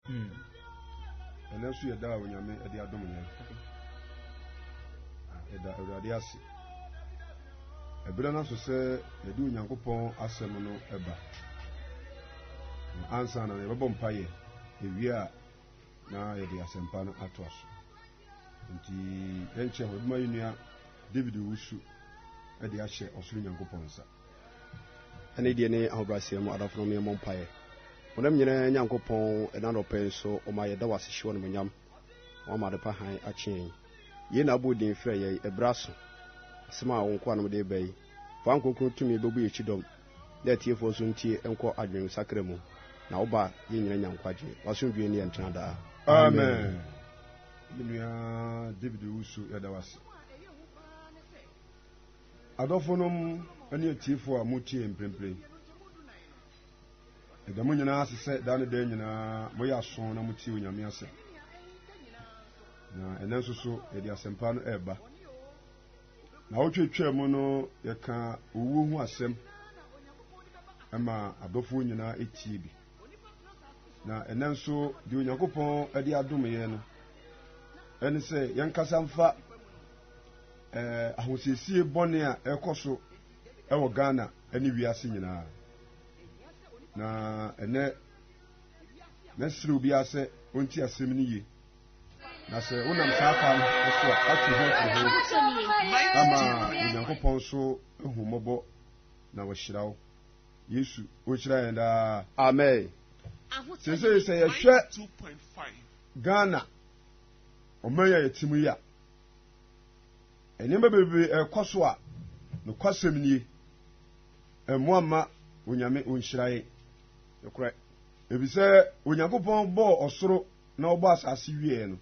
Hmm. Ɛnɛ nso yɛda a Onyame ɛde adom yɛn. Ɛda ah, Awurade ase. Ɛberɛ no aso sɛ yɛde Onyankopɔn asɛm no ɛba. Ansa na yɛbɛbɔ mpaeɛ ewie a na yɛde asɛmpa no ato aso. Nti yɛnkyɛ hɔ, ɛbɛma yɛn nua David Owusu ɛde ahyɛ ɔsoro Nyankopɔn nsa. ɛne deɛ ne ahobrɛaseɛ mu adafo nom yɛmmɔ mpaeɛ wɔnam nyinaa nyankopɔn ɛna nɔpɛ nso ɔma yɛda wase hye wɔnom nyam wɔama adepa han akyeɛn yei na abɔ din frɛ yɛi ɛberɛ aso asɛm a wo nkoa nom de ba yi fa nkonkron tumi bɛbu yɛkyi dɔm na atiefoɔ nso ntie nkɔ adwene sakra mu na woba yɛ nyina nya nkwagye wasomdwee ne yɛntena daa amen menua david wusu yɛda wase Adɔfonom ne atiefo a moretie yɛn mprempren, ɛda mo nyinaa ase sɛ daa ne daa nyinaa moyɛ aso na motie Onyame asɛm. Na ɛnɛ nso so yɛde asɛmpa no ɛreba. Na wotwetwaa mu no yɛka owuo ho asɛm ɛma adɔfoɔ nyinaa ɛtie bi. Na ɛnɛ nso deɛ Onyankopɔn de adom yɛn no ɛne sɛ yɛnkasa mfa eh, ahosiesie bɔne a ɛkɔ so wɔ ghana ne wiase nyinaa na ɛnɛ mɛsrɛ obiara sɛ ɔnti asɛm no ye na sɛ wonam saa kwan so a ato ho afiri ho ama onyankopɔn so ahummɔbɔ na wɔhyira wo yesu ɔnhyira yɛn daa amen sesei sɛ yɛhwɛ ghana ɔman a yɛte mu yi a Nneɛma bebree ɛrekɔ so a, nokwasɛm nie, ɛmmoa mma Onyame ɔnhyira yɛn. Nokorɛ, efisɛ Onyankopɔn bɔɔ ɔsoro na ɔbɔ asase wieɛ no,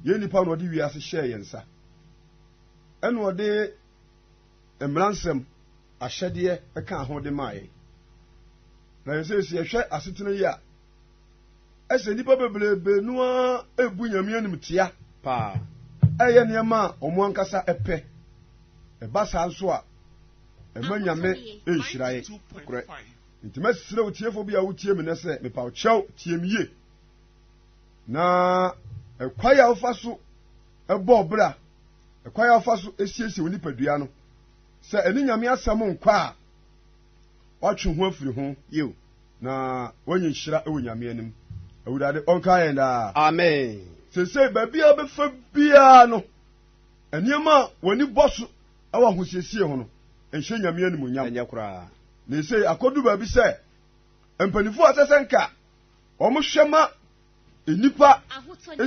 yɛn nnipa na ɔde wiase hyɛɛ yɛn nsa. Ɛna ɔde mmaransɛm, ahyɛdeɛ ɛkaa ho de maa yɛn. Na yɛn sɛ yɛhwɛ asetena yi a, Ɛhyɛ nnipa bebrebe no ara rebu Nyame animtia paa, reyɛ nneɛma a wɔn ankasa pɛ. Ɛba saa nso a, ɛma Nyame nhyira yɛn. Nokorɛ. Enti mɛsrɛ wo tiefoɔ bi a wotie me nɛ sɛ, mepa wo kyɛw, tie me yie. Na ɛkwae a wofa so bɔ ɔbra, ɛkwae a wofa so siesie wo nipadua no, sɛ ɛne Nyame asɛm nkɔ a, watwe ho afiri ho. Yiw, na wanya nhyira wɔ Nyame anim. Awurade ɔnkaa yɛn daa. Amen. Seesei baabi a bɛfa biara no, nneɛma a w'ani bɔ so wɔ ahosiesie ho no, nhyɛ Nyame animuonyam. Ɛnyɛ koraa. Na esei akɔdu baabi sɛ mpanyimfo a ɛsɛ sɛ nka wɔhwɛ ma nnipa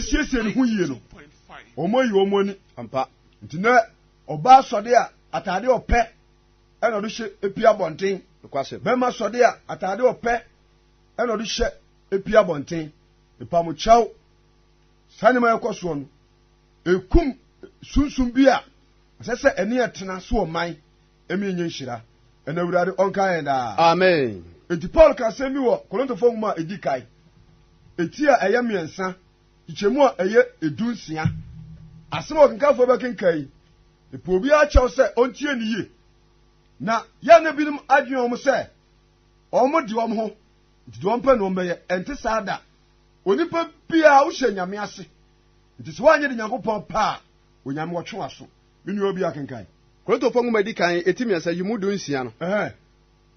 siesie ne ho yie no, wɔayi wɔn ani. Ampa. Nti nɛ ɔbaa sɔde a, atade ɔpɛ. ɛna ɔde hyɛ epi abɔnten. Nokwasɛm. Bɛrima sɔde a ataade ɔpɛ ɛna ɔde hyɛ epi abɔnten. Epamokyɛw. Saa nneɛma ɛkɔ soɔ no ekum sunsun bi a ɛsɛ sɛ ɛne ɛtena so ɔman ɛmi enye nhyira ɛna awurade ɔnka yɛn daa. Amen. Eti Paul ka asɛm bi wɔ Korintofoɔ nwoma a edi kan eti a ɛyɛ mmiɛnsa Nkyɛmu a ɛyɛ edu nsia. Asɛm a ɔkenkanfoɔ bɛkenkan yi, epɛ obiara kyɛw sɛ ɔntie no yie. Na yɛn na binom adwene wɔn sɛ wɔn de wɔn ho nti deɛ wɔmpɛ na wɔn bɛyɛ. Ɛnte saa da. Onipa biara wohyɛ nyame ase. Nti sɛ woanyɛ de Nyankopɔn pɛ a, Onyame wɔtwe w'aso. Me nua obi akenkan. Korintofoɔ nwoma edi kan eti mmiɛnsa yi mu du nsia no. Ɛhɛn.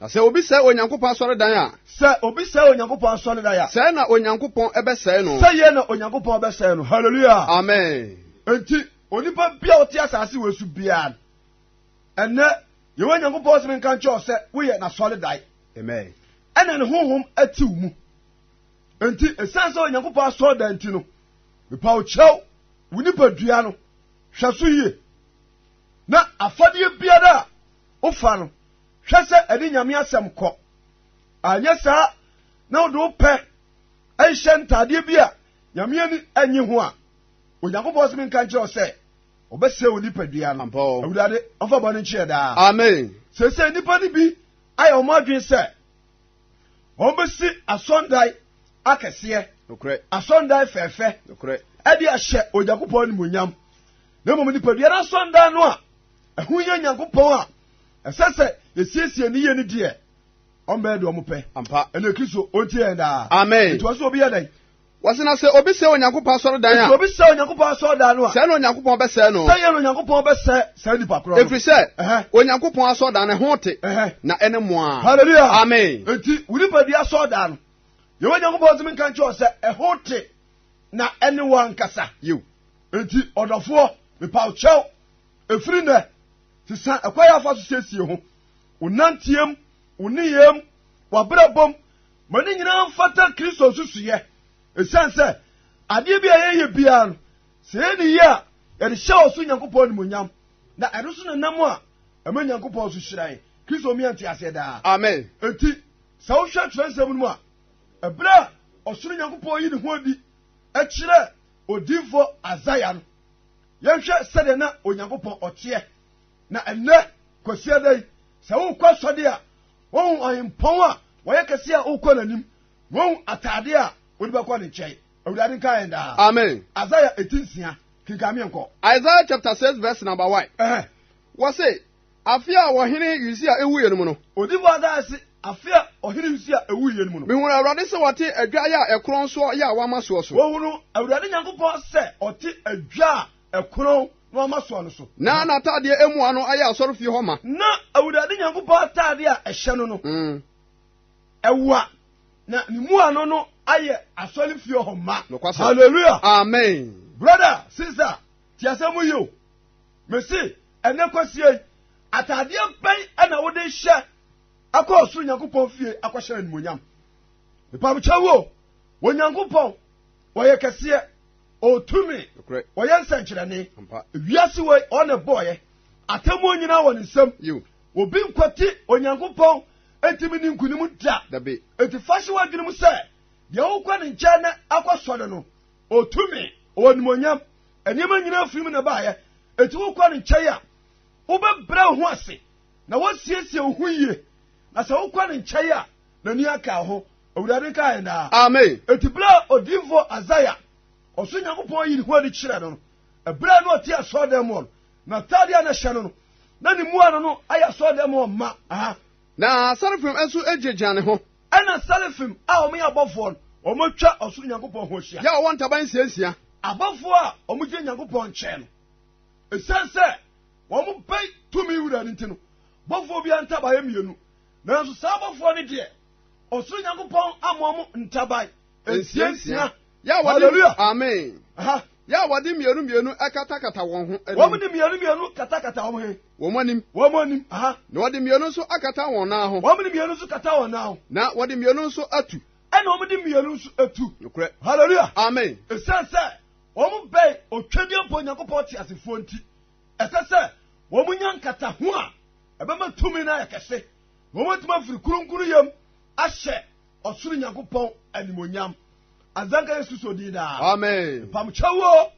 Na sɛ obi sɛe Onyankopɔn asɔredan a. Sɛ obi sɛe Onyankopɔn asɔredan a. Sɛɛ na Onyankopɔn bɛsɛe no. Sɛyɛ na Onyankopɔn bɛsɛe no. Hallelujah! Amen! Enti, onipa bi a ɔte asase wei so biara no, ɛnnɛ, Yehowa Nyankopɔn se menka nkyerɛ wo sɛ woyɛ n'asɔredan. Amen! Ɛna ne honhom te wo mu. Enti, esiane sɛ Onyankopɔn asɔredan nti no, mepa wo kyɛw, wo nipadua no, hwɛ so yie. Na afadeɛ biara a wofa no, Hwɛ sɛ ɛde Nyame asɛm kɔ. Anyɛ saa na wode wo pɛ hyɛ ntaadeɛ bi a Nyame ani nnye ho a, Onyankopɔn se menka nkyerɛ wo sɛ, ɔbɛsɛe wo nipadua no. Awurade ɔmfa bɔne nkye yɛ daa. Amen. Seesei nnipa no bi ayɛ wɔn adwene sɛ wɔbɛsi asɔndae akɛseɛ, asɔndae fɛɛfɛ, ɛde ahyɛ Onyankopɔn animuonyam, na mmom nipadua no asɔndae no a Ɛho hia Nyankopɔn a ɛsɛ sɛ yɛsiesie no yie no deɛ, ɔmbɛyɛ deɛ ɔmo pɛ. Ampa. Ɛne Kristo, ɔntie yɛn daa. Amen. Nti ɔse obi yɛ dɛn? Wɔse na sɛ obi sɛe Onyankopɔn asɔredan a. Nti obi sɛe Onyankopɔn asɔredan no a. Sɛɛ na Onyankopɔn bɛsɛe no. Sɛdeɛ na Onyankopɔn bɛsɛe saa nipa korɔ no. Ɛfiri sɛ, Onyankopɔn asɔredan no, ɛho te, na ɛne mmoaa. Hallelujah. Amen. Nti wo nipadua asɔredan no, Yehowa Nyankopɔn tumi nka nkyerɛ wo sɛ ɛho te na ɛne wo ankasa. Yiw. Nti ɔdɔfoɔ, mepa wo kyɛw. Ɛfiri nnɛ, sesa ɛkwan a afa so siesie ho, wo nanteɛm, wo nneyɛɛm, w'abrabɔm, ma ne nyinaa mfata Kristo nsusuiɛ. Ɛsiane sɛ adeɛ bi a yɛyɛ biara no, sɛ yɛyɛ no yie a, yɛde hyɛ ɔso Nyankopɔn animonyam, na ɛno so na nam a ɛma Nyankopɔn nso hyira yɛn. Kristo mmea nteaseɛ daa. Amen. Enti, sɛ wohwɛ twerɛnsɛm no mu a, ɛberɛ a ɔsoro Nyankopɔn yi ne ho adi kyerɛ odiyifoɔ Isaiah no, Yɛnhwɛ sɛdeɛ na Onyankopɔn ɔteɛ. Na ɛnnɛ, Kwasiada da yi, sɛ wokɔ asɔde a, wohu ɔhempɔn a wɔyɛ kɛseɛ a wokɔ n'anim, na wohu ataadeɛ a wode bɛkɔ ne nkyɛn. Awurade nka yɛn daa. Amen. Isaiah eti nsia, kenkan meɛnkɔ. Isaiah chapter six verse number one. Ɛhɛn. Wɔse, Afe a ɔhene Usia wuiɛ no mu no. Odifo Hagai se, Afe a ɔhene Usia wuiɛ no mu no. Mehunuu Awurade sɛ ɔte adwae a ɛkorɔn soɔ yɛ a wɔama soɔ so. Wɔhunuu Awurade Nyankopɔn sɛ ɔte adwa a ɛkorɔn na wɔama soɔ no so. Na n'atadeɛ mmoa no ayɛ asɔrefie hɔ ma. Na Awurade Nyankopɔn atadeɛ a ɛhyɛ no no, ɛwa, na ne mmuano no ayɛ asɔrefie hɔ ma. Nokwasɛm. Hallelujah. Amen. Brother, sister. Tie asɛm yi o, mese ɛnnɛ kwasia yi, ataadeɛ bɛn na wode hyɛ akɔ ɔsoro Nyankopɔn fie akɔhyɛ animonyam? Mepamkyɛ wo o, Onyankopɔn, ɔyɛ kɛseɛ, ɔtumi, ɔyɛ nsɛnkyerɛnne. Wiase wei, ɔne bɔɔyɛ. Atemmuo nyinaa wɔ ne nsam. Obi nkwati Onyankopɔn ntumi ne nkunim da. Enti fa hyɛ w'adwene mu sɛ, deɛ wokɔ ne nkyɛn na akɔsɔre no, Ɔwɔ tumi, ɔwɔ animuonyam. Nneɛma nyinaa firi mu na ɛbaeɛ. Enti wokɔ ne nkyɛn a, wobɛbrɛ wo ho ase na woasiesie wo ho yie. Na sɛ wokɔ ne nkyɛn a, n'ani aka wo ho. Awurade nka yɛn daa. Amen. Enti berɛ a odiyifoɔ Isaiah ɔso Nyankopɔn ayi ne ho adi kyerɛ no no, ɛberɛ a na ɔte asɔredan mu hɔ no, n'ataadeɛ a na ɛhyɛ no no, na ne mmuano no ayɛ asɔredan mu hɔ ma. Aha. Na sɛrafim nso gyinagyina ne ho. Ɛnna serafim a wɔyɛ abɔfoɔ no, wɔatwa ɔsoro Nyankopɔn ho ahyia. Yɛ wɔwɔ ntaban nsiansia. Abɔfoɔ a wɔgyina Nyankopɔn nkyɛn no, ɛsiane sɛ wɔbɛn tumi wura no nti no, bɔfoɔ biara ntaban yɛ mmienu. Nanso saa abɔfoɔ no deɛ, ɔsoro Nyankopɔn ammɔ wɔn ntaban nsiansia. Yɛ a wɔde Hallelujah. amen. Aha. Yɛ a wɔde mmienu mmienu akatakata wɔn ho Wɔn anim, de mmienu mmienu katakata wɔn he. wɔn anim, Wɔn anim. Aha. na wɔde mmienu nso akata wɔn nan ho, Wɔn de mmienu nso kata wɔn nan ho. na wɔde mmienu nso atu. Ɛna wɔn de mmienu nso atu. Nokorɛ. Hallelujah. Amen. Ɛsiane sɛ wɔn bɛn otwadeɛ mpo Onyankopɔn te asefoɔ nti, ɛsɛ sɛ wɔn nya nkataho a ɛbɛma tumi no ayɛ kɛse. Na wɔn atumi afiri kurunkuruyam ahyɛ Ɔsoro Nyankopɔn animonyam. Azanka Yesu so din daa. Amen. Pamkyɛwo,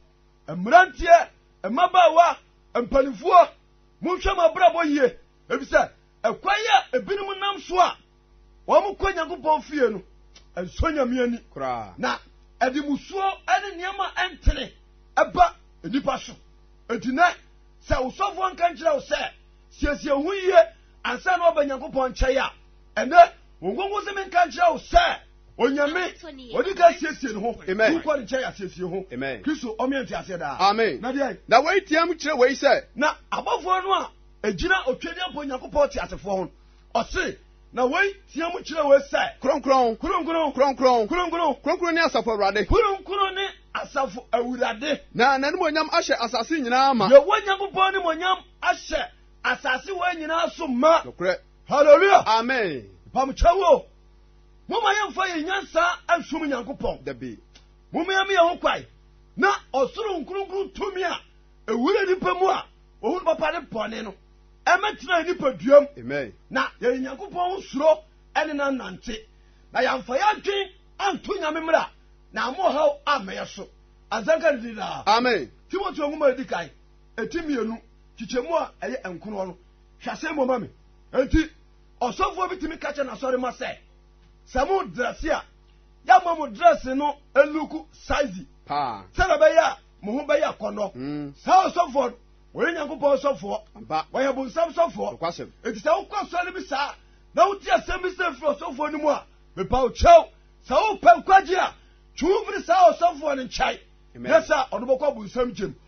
mmeranteɛ, mmabaawa, mpanimfoɔ, monhwɛ mo abrabɔ yie, efisɛ ɛkwan a ebinom nam so a wɔn kɔ Nyankopɔn fie no ɛnsɔ Nyame ani. Na ɛde musuo ne nneɛma ntene ɛba nnipa so. Enti nɛ sɛ wosɔfoɔ nka nkyerɛ wo sɛ siesie ho yie ansa na waba Nyankopɔn nkyɛn a, ɛnɛ wɔn nkonko sɛ menka nkyerɛ wo sɛ onyame ɔde ka asiesie ne ho wokɔ ne nkyɛn asiesie ho kristo ɔmeɛ nte aseɛ daa amen na deɛ na wei tiam kyerɛ wei sɛ na abɔfoɔ no a ɛgyina ɔtwadi apɔ nyankopɔn te asefoɔ ho ɔse na wei tiam kyerɛ wei sɛ kronkron kronkron kronkron kronkron kronkron ne asafo awurade kronkron ne asafo awurade na n'anim onyam ahyɛ asase nyinaa ma yɛwɔ nyankopɔn ne monyam ahyɛ asase wɔ nyinaa so ma nokorɛ Hallelujah. Amen. Mpamokyɛ wo. Moma yɛmfa yɛn nyansa nsom Nyankopɔn. Dabi. Moma yɛn yɛn ho kwae na ɔsoro nkronkron tumi a ewura nipa mu a ohun papa ne bɔne no ɛmɛtena nipaduam. Amen. Na yɛyɛ Nyankopɔn ho suro ɛne na nante. Na yɛmfa yɛn adwen anto nyame mmra na ama ɔhaw ammɛyɛ so. Azanka ne din daa. Amen. Timoteo nwoma edi kan eti mmienu kyekyɛmu a ɛyɛ nkono no Hwɛ asɛm bɔ ma me. Enti ɔsɔfoɔ bi tumi ka kyɛ n'asɔre ma sɛ, sɛ mo drɛse a, yɛama mo drɛse no luku saizi sɛdeɛ ɛbɛyɛ a mo ho bɛyɛ akɔnnɔ. Hmm. Saa ɔsɔfoɔ no, wɔyɛ Nyankopɔn sɔfoɔ, wɔyɛ bonsam sɔfoɔ. Enti sɛ wokɔ asɔre bi saa na wote asɛm bi sɛ firi ɔsɔfoɔ no mu a, mepa wo kyɛw. Sɛ wopɛ nkwagye a, twe wo firi saa ɔsɔfoɔ no nkyɛn na sɛ ɔno bɛkɔ bonsam gyem.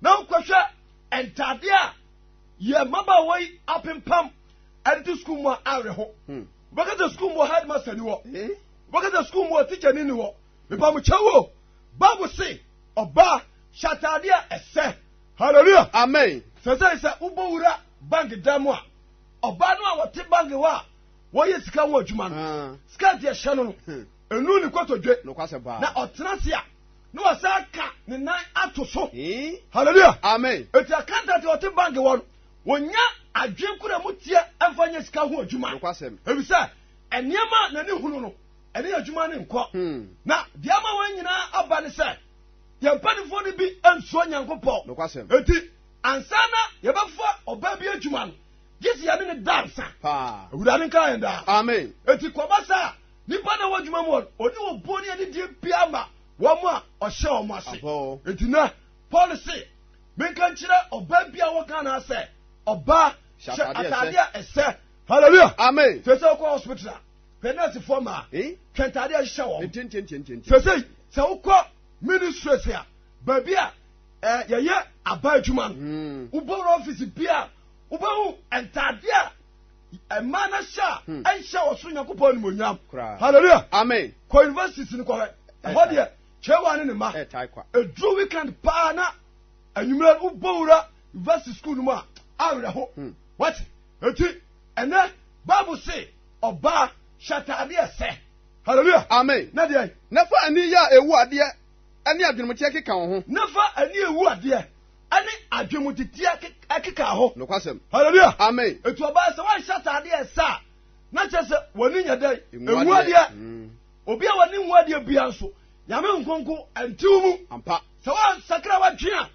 na wokɔhwɛ ntade a yɛ mmabaawa yi apempam ɛde to sukuu mu a awerɛho hmm. wobɛka sɛ sukuu mu wɔ headmaster ni hɔ eh? wobɛka sɛ sukuu mu wɔ teacher ni ni hɔ mepamokyɛ wo bible se ɔbaa hyɛ atade a ɛsɛ hallelujah amen sɛ sɛ sɛ wobɔ wura bank dan mu a ɔbaa no a wɔte bank hɔ a wɔyɛ sika ho adwuma no ah. skirt ɛhyɛ no no ɛnu hmm. ne kɔtɔdwe na ɔtena se a na wasan aka ne nan ato so hallelujah amen eti akanta ti ɔte bank wɔ no wɔnya adwene kura mu teɛ ɛmfa nyɛ sika ho adwuma efisɛ nneɛma na ne hunu no ɛne yɛ adwuma ne nkɔ hmm. na deɛ ama wɔn nyinaa aba ne sɛ yɛn mpanimfoɔ no bi nsuo nyankopɔn eti ansa na yɛbɛfa ɔbaa bi adwuma no gye si yɛne ne dansa awurade nka yɛn daa amen eti kɔba saa Nnipa na ɛwɔ adwuma mu hɔ no, ɔni obuo ne anidie biara ma wɔn a ɔhyɛ wɔn ase. Enti nɛ, Paul se, menka nkyerɛ ɔbaa biara wɔ Ghana ha sɛ, ɔbaa, hyɛ ataadeɛ a ɛsɛ. Hallelujah! Amen! Sese wokɔ hospital a, hwɛ nɛɛsefoɔ mmaa, hwɛ ntaadeɛ a ɛhyehyɛ wɔn. Sese, sɛ wokɔ ministries a, baabi a eh, yɛyɛ aba adwuma no, wobɔ wura office biara, wobɛhu ntaadeɛ a Mmaa no hyɛ a hmm. ɛnhyɛ ɔsoro nyankopɔn animonyam hallelujah amen kɔ universities no kɔhwɛ ɛhɔ deɛ kyɛwa ne ne ma ɛduru weekend paa na anwummerɛ wobɔ wura university school no mu a awerɛho hmm. wate ɛti ɛnɛ bible se ɔbaa hyɛ ataadeɛ sɛ hallelujah amen na deɛ na fa ani yɛ a ɛwu adeɛ ɛne adwenemkyɛ keka wo ho na fa ani ɛwu adeɛ ɛne adwemudidie ɛkeka hɔ. Nokwasɛm. Hallelujah. Amen. Etu ɔbaa sɛ wɔnhyɛ ataade a ɛsɛ a, na kyerɛ sɛ wɔn ani nyɛ dɛ. Nhu adeɛ. Mm. Obi a wɔne nhu adeɛ bia nso, nyame nkonko ɛntew mu. Ampa. Sɛ wɔnsakra wɔdwen a,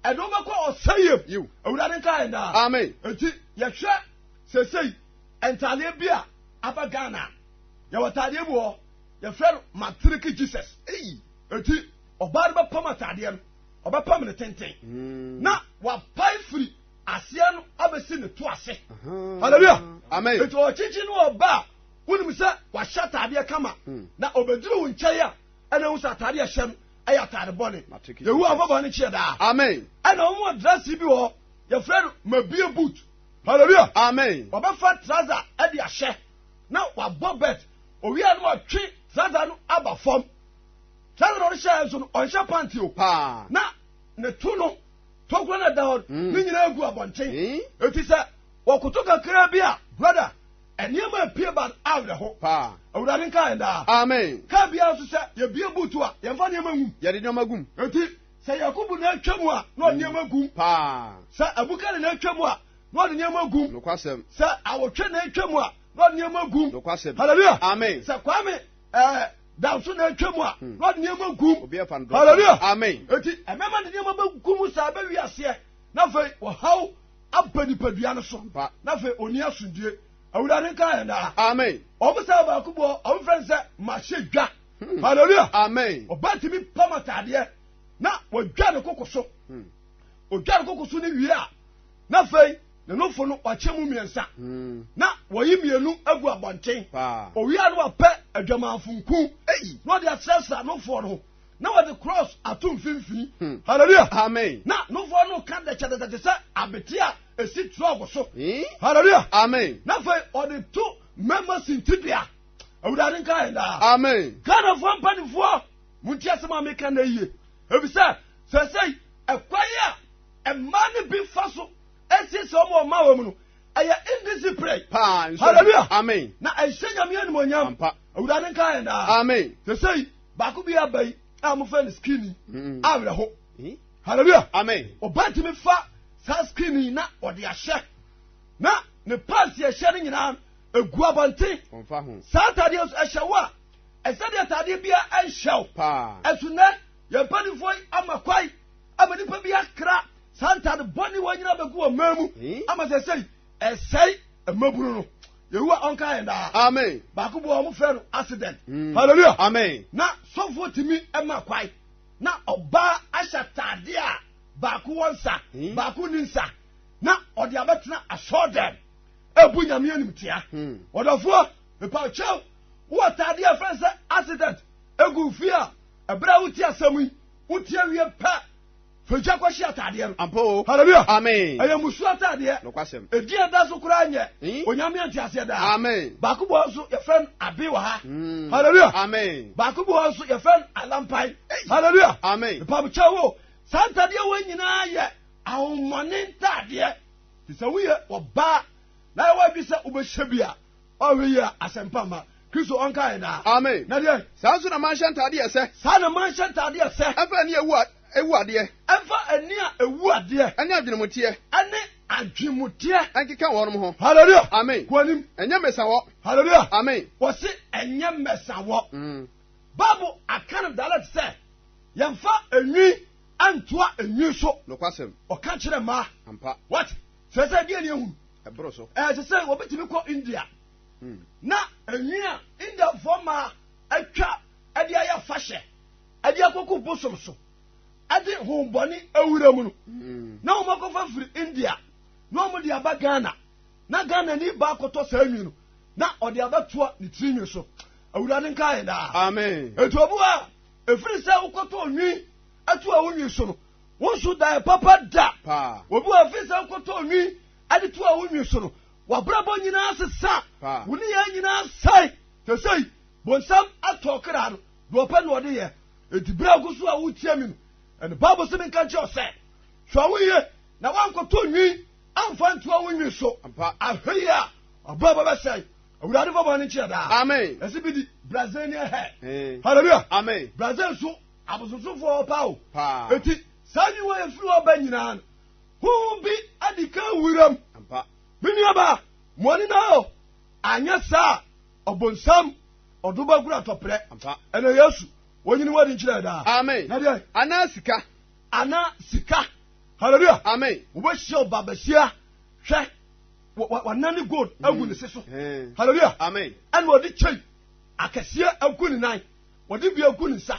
ɛde wɔbɛkɔ ɔsɛyɛm. Yiw. Awurade nka yɛn daa. Amen. Eti yɛhwɛ sesei ntaadeɛ bi a aba Ghana. Yɛwɔ taadeɛ bi wɔ, yɛfrɛ no Matriki Jesus. Eti ɔbaa no bɛpam ataadeɛ no. ɔbɛpam ne tenten mm. na wapae firi aseɛ no abɛsi ne to ase halleluya amen nti ɔkyekye ne ɔba a wonim sɛ wahyɛ ataadeɛ kama hmm. na ɔbɛduru wo nkyɛe a ɛna wo sɛ ataadeɛ ɛhyɛ no ɛyɛ ataade bɔne yehowa afɔbɔ ne kyeɛ daa amen ɛna wɔn adrasi bi wɔ yɛfrɛ no mabie boot halleluya amen ɔbɛfa traza ɛde ahyɛ na wabɔ bɛt owia no ɔtwe traza no aba fam Saa na ɔde hyɛɛ nso no, ɔnhyɛ pant o, na ne to no tokuro na ɛda hɔ mm. ne nyinaa gu abɔnten. Eti sɛ wɔkoto kakraa bi a, brada, nneɛma apue ba awerɛho. Awurade nka yɛn daa. Amen. Kaa biara nso sɛ yɛbie buutu a, yɛmfa nneɛma ngum. Yɛde nneɛma gum. Eti sɛ Yakubu na atwa mu a, na ɔde mm. nneɛma gum. Sɛ Abukari na atwa mu a, na ɔde nneɛma gum. Nokwasɛm. Sɛ awotwe na atwa mu a, na ɔde nneɛma gum. Nokwasɛm. Hallelujah. Amen. Sɛ Kwame ɛɛ. Eh, da nso na atwa mu a hmm. na ɔde nneɛma gum hallelujah amen eti ɛbɛma ne nneɛma bɛgum saa bɛwi aseɛ na afei ɔhaw aba nipadua no so na afei ɔni asomdue awurade nka yɛn daa amen ɔmo sɛ baako bɔ ɔmo fɛn sɛ mahyɛ dwa hmm. hallelujah amen ɔba tumi pam ataadeɛ na wɔdwa ne koko so ɔdwa hmm. ne koko so ne wie a Na afei ne nofo no wɔakyɛ mu mmiɛnsa, hmm. na wɔyi mmienu agu abɔnten. Owia no apɛ adwamanfo nku na wɔde asrasra nofoɔ no, na wɔde cross ato mfimfini. Hmm. Hallelujah. Amen. Na nofoɔ no ka dɛkyɛdɛkyɛ te sɛ abete a esi trɔg so. Hmm. Hallelujah. Amen. Na afei ɔde to mmarima sintidua. Awurade nka yɛn daa. Amen. Ghanafoɔ mpanimfoɔ, mo nti asɛm a meka na yie. Ebisɛ sɛsɛi ɛkwan a Mmaa no bi fa so siesie wɔn wɔ mmaa wɔn mu no ɛyɛ indiscipline. paa nso hallelujah amen na ɛhyɛ nyame animonyam ampa awurade nka yɛn daa amen te sɛ yi baako bi aba yi a mofɛ no skinny mm. awerɛho hmm? hallelujah amen ɔbɛtumi fa saa skinny na ɔde ahyɛ na ne pants yɛhyɛ no nyinaa egu abɔnten saa ataadeɛ nso ɛhyɛ wo a ɛsɛ deɛ ataadeɛ biara ɛnhyɛ wo ɛso nɛ yɛn mpanimfoɔ yi ama kwae ama nnipa bi akra saa ntade bɔne wɔ nyina bɛgu wɔ mmaa mu ama sɛ sɛi ɛsɛe mmabunu no yehowa ɔnka yɛn daa amen baako bɔ wɔn frɛ no accident mm. hallelujah amen na sɔfoɔ tumi ɛma kwae na ɔbaa ahyɛ ataade a baako wɔ nsa hmm. baako ni nsa na ɔde abɛtena asɔɔ dɛm ebu nyame anim tia hmm. ɔdɔfoɔ mepa kyɛw wɔ ataade a fɛn sɛ accident egu fie a ɛbrɛ a wote asɛm yi Wotie wie pɛ, fa gya kɔhye ataadeɛ no. Ampa o. Hallelujah. Amen. Ɛyɛ mmusu ataadeɛ. Nokwasɛm. Edin a ɛda so koraa nyɛ mm. Onyame Nteaseɛ Daa. Amen. Baako bɔ hɔ nso yɛfrɛ no Abe wɔ ha. Mm. Hallelujah. Amen. Baako bɔ hɔ nso yɛfrɛ no Alampai. Hallelujah. Amen. Mpabokyɛ wo. Saa ntaadeɛ wɔ nyinaa yɛ ahomɔne ntaadeɛ. Te sɛ woyɛ ɔbaa na ɛwɔ adwi sɛ wobɛhyɛ bi a Ɔreyɛ asɛmpa ma Kristo ɔnka yɛ daa. Amen. Na deɛ. Saa nso na manhyɛ ntadeɛ ɛsɛ. Saa na manhyɛ ntadeɛ ɛsɛ. Ɛmfa ani a ɛwu ɛwu adeɛ. Ɛmfa ani a ɛwu adeɛ. Ɛne adwenemuteɛ. Ɛne adwenemuteɛ. Ɛnkeka wɔnom ho. Hallelujah. Amen. Kɔ anim. Ɛnyɛ mmesawɔ. Hallelujah. Amen. Wɔsi ɛnyɛ mmesawɔ. Mm. Bible aka no dialect sɛ yɛmfa enwi antoa enwi so. Nokwasɛm. Ɔka kyerɛ mmaa. Ampa. What? Kyerɛ sɛ deɛ ni ehunu. Ɛboro so. Ɛsɛ sɛ wɔbɛtumi kɔ India. Hmm. Na enwi a Indiafoɔ maa atwa ɛde ayɛ fahyɛ ɛde akoko bosom so ɛde hombɔne awura mu no. Hmm. Na wɔn akɔfa firi India na wɔn de aba Ghana. Na Ghana ni ba akɔtɔ saa enwi no na ɔde abɛtoa ne tiri nwi so. Awurade nka yɛn daa. Amen. Etu obu a efiri sɛ wokɔtɔ onwi ɛto a wonwi so no. Wonso dae papa da. Obi wɔ afei sɛ wokɔtɔ nwi de to a wonwi so no, w'abrabɔ nyinaa sesa. Wo nneyɛe nyinaa sɛe. Te sɛ yi, bonsam atɔ ɔkra no, deɛ ɔpɛ na ɔde yɛ. Enti berɛ a wogu so a woretia me no, ɛnna Bible se menka nkyerɛ wo sɛ, Hwɛ wo yie na woankɔtɔ nwi amfa nto a wonwi so. Ahwɛ yie a, w'abrabɔ bɛsɛe. Awurade fa bɔne nkyɛ daa. Amen. Ɛsɛ bi di Brazilian hair. Hallelujah. Amen. Brazil nso. Abosonsomfoɔ pa o. Paa. Eti saa nyiwa yɛ firi hɔ ba nyinaa no, honhom bi adi kan wura mu. Ampa. Me nuaba, mɔni na o. Anyɛ saa ɔbonsam ɔdo bɛgoro atɔprɛ. Ampa. Ɛna Yesu, wɔnyini wɔde nkyerɛ daa. Amen. Na deɛ. Anaa sika. Anaa sika. Hallelujah. Amen. Wobɛhyia ɔba bɛhyia hwɛ wɔnane gold agu ne se so. Hallelujah. Amen. Ɛna ɔde kyɛn akɛseɛ agu ne nan. Wɔde bi agu ne nsa.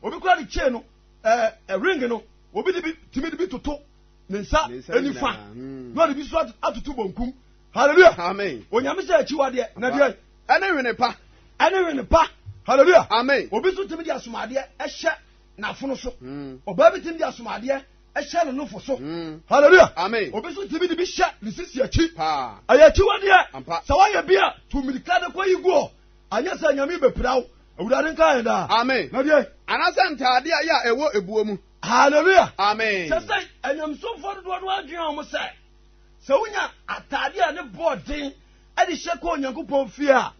Obi koraa de chain no, ɛɛ ring no, obi de bi tumi de bi toto ne nsa nifa hmm. na ɔde bi nso atoto bonkum. Hallelujah. Amen. Onyame sɛ akyiwadeɛ na deɛ. Ɛne wene pa. Ɛne wene pa. Hallelujah. Amen. Obi nso tumi de asomadeɛ ɛhyɛ n'afono so. Hmm. Ɔbaa bi tumi de asomadeɛ ɛhyɛ ne nofo so hmm. hallelujah amen obi nso tìmi de bi hyɛ ne sisi akyi ɛyɛ akyiwadeɛ sɛ wɔyɛ bi a tu mirika de kɔ yi guɔ. Anyɛ saa a, Nyame bɛpira wo. Awurade nka yɛn daa. Amen. Na deɛ. Anaasɛ ntaadeɛ a ɛyɛ a ɛwɔ ebuo mu. Hallelujah. Amen. Sɛ sɛ anyamsomfoɔ dodoɔ no adwene a wɔn sɛ sɛ wonya ataadeɛ a ne bɔɔ den ɛde hyɛ kɔ Onyankopɔn fie a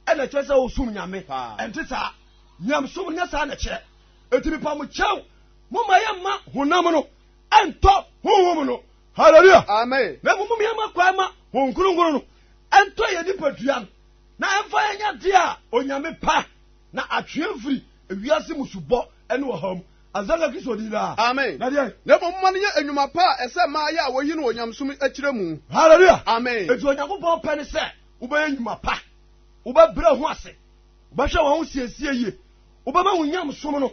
ɛna ɛkyerɛ sɛ wɔsom Nyame. Ɛnte saa. Nyamsom nyɛ saa na ɛkyerɛ. Eti mepa mo kyɛw mo ma yɛ mma honam no ɛntɔ honhom no. Hallelujah. Amen. Na mmom yɛ mma kwan ma honhom kronkron no ɛntɔ yɛ nipadua no. Na ɛmfa yɛn nyɛ adeɛ a Onyame pɛ, na atwe yɛn firi ewiase mu subɔ ne ɔhaw mu. Azaria Kristo din daa. Amen. Na deɛ. Na mmom momma no nyɛ nnwuma pa a ɛsɛ mmaa yɛ a wɔyi no wɔ nyamesom akyire mu. Hallelujah. Amen. Enti Onyankopɔn pɛ ne sɛ wobɛyɛ nnwuma pa, wobɛbrɛ ho ase, wobɛhwɛ wɔn ho siesie yie, wobɛma wo nyamesom no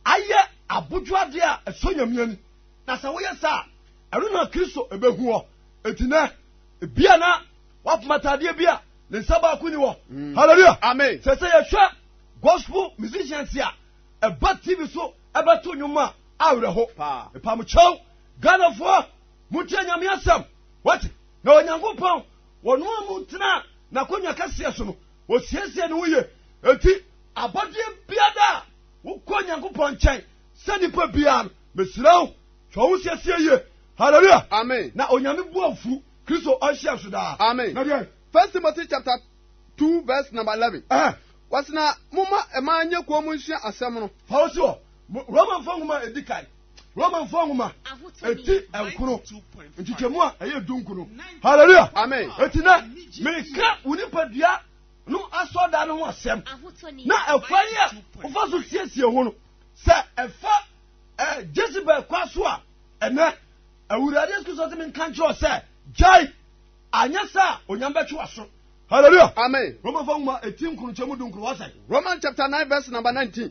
ayɛ abodwo adeɛ a ɛsɔ Nyame ani. Na sɛ woyɛ saa a, ɛno na Kristo ɛbɛhu ɔ. Enti nɛ, ebia na Wapem ataadeɛ bi a ne nsa baako ni wɔ. Mm. Hallelujah. Amen. Sɛ sɛ yɛhwɛ gospel musicians a ɛba TV so ɛbɛto nnwom a awerɛho. Mpamokyɛw Ghanafoɔ motie nyame asɛm wate na Onyankopɔn wɔno a mu tena n'akonnwa kɛseɛ so no wɔsiesie ne ho ye enti abɔdeɛ biada a wokɔ Onyankopɔn nkyɛn sɛ nipa biara no mesrɛ wo hwɛ wo siesie yie hallelujah amen na onyame bu afu Kristo ɔnhyia so daa. Amen. Na deɛ. First Timothy chapter two verse number eleven. Ɛhɛn. Wɔsi na mo ma ɛmaa nye kɔn mu nhyia asɛm no. Paul si hɔ, Romanfoɔ nwoma a edi kan, Romanfoɔ nwoma eti nkono, nkyekyɛmu a ɛyɛ du nkono. Hallelujah. Amen. Eti na meka wo nipadua no asɔɔda no ho asɛm na ɛkwan yi a wofa so siesie ho no sɛ ɛfa ɛɛ Jezebel kwa so a ɛnɛ. Awurade Yesu Kristo se me nka nkyerɛ sɛ gyae anyɛ sɛ a onyame bɛtwe w'aso. Hallelujah. Amen. Roman fa nwoma eti nkron kyɛ mu du nkron wɔsɛ. Roman chapter nine verse number nineteen.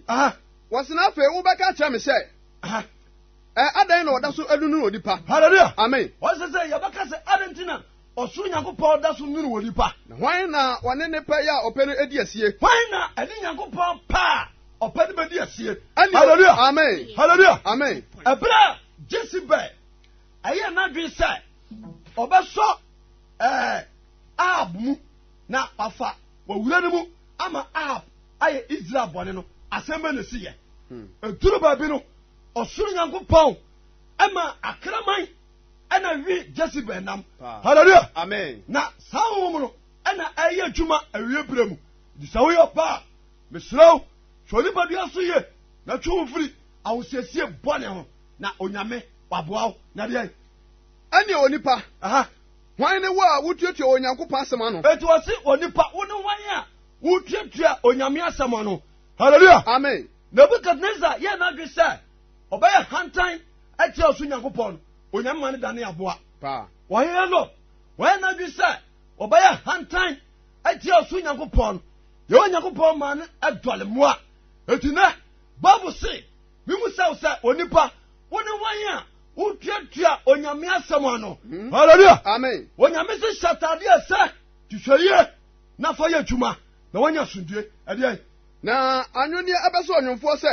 Wɔsɛ na afei wobɛka akyerɛ me sɛ ɛ adɛn na wɔda so anunu onipa. Hallelujah. Amen. Wɔsɛ sɛ yɛbɛka sɛ adɛn nti na Ɔsoro Nyankopɔn da so nwunu onipa. Na hwan na ɔne ne pɛ yɛ a ɔpɛ no di asie? Hwan na ɛne Nyankopɔn pɛ a ɔpɛ no bedi asie? Ɛne o. Hallelujah! Amen. Hallelujah! Amen. Ɛberɛ a Jezebel ɛyɛɛ n'adwene sɛ ɔbɛsɔ ɛɛ Ahab mu na wafa wawura no mu ama Ahab ayɛ Israel bɔne no, asɛm bɛ na esi yɛ? Eduru baabi no, ɔsoro Nyankopɔn ɛma akraman. ɛna wi jezebel nam hallelujah amen na saa honhom no ɛna ɛyɛ adwuma awie berɛ mu nti sɛ woyɛ ɔbaa mesrɛ wo hwɛ onipadua so ye na twe wo mfiri ahosiesie bɔne ho na onyame waboa wo na deɛ ɛneɛ onipa hwan ne wo a wotuatua wɔ onyankopɔn asɛm ano ɛti wɔ se onipa wo ne hwan a wotuatua onyame asɛm ano hallelujah amen nebukadnezar yɛ n'adwe sɛ Ɔbɛyɛ hantan atia ɔsoro Nyankopɔn no, Onyame ma no dane aboa. Ɔhene no, wayɛ n'adwene sɛ ɔbɛyɛ hantan atia ɔsoro Nyankopɔn no, Yehowa Nyankopɔn ma no dɔle mmoa. Enti nɛ, Bible se, Mimu sɛ wo sɛ onipa, wo ne wɔn a wotuatua Onyame asɛm ano. Hmm. Hallelujah! Amen. Onyame se hyɛ ataadeɛ sɛ, hwehwɛ yie na fa yɛ adwuma na wanya asomdue. Ɛdeɛ na anwonneɛ ɛbɛsɔ ɔnwomfoɔ sɛ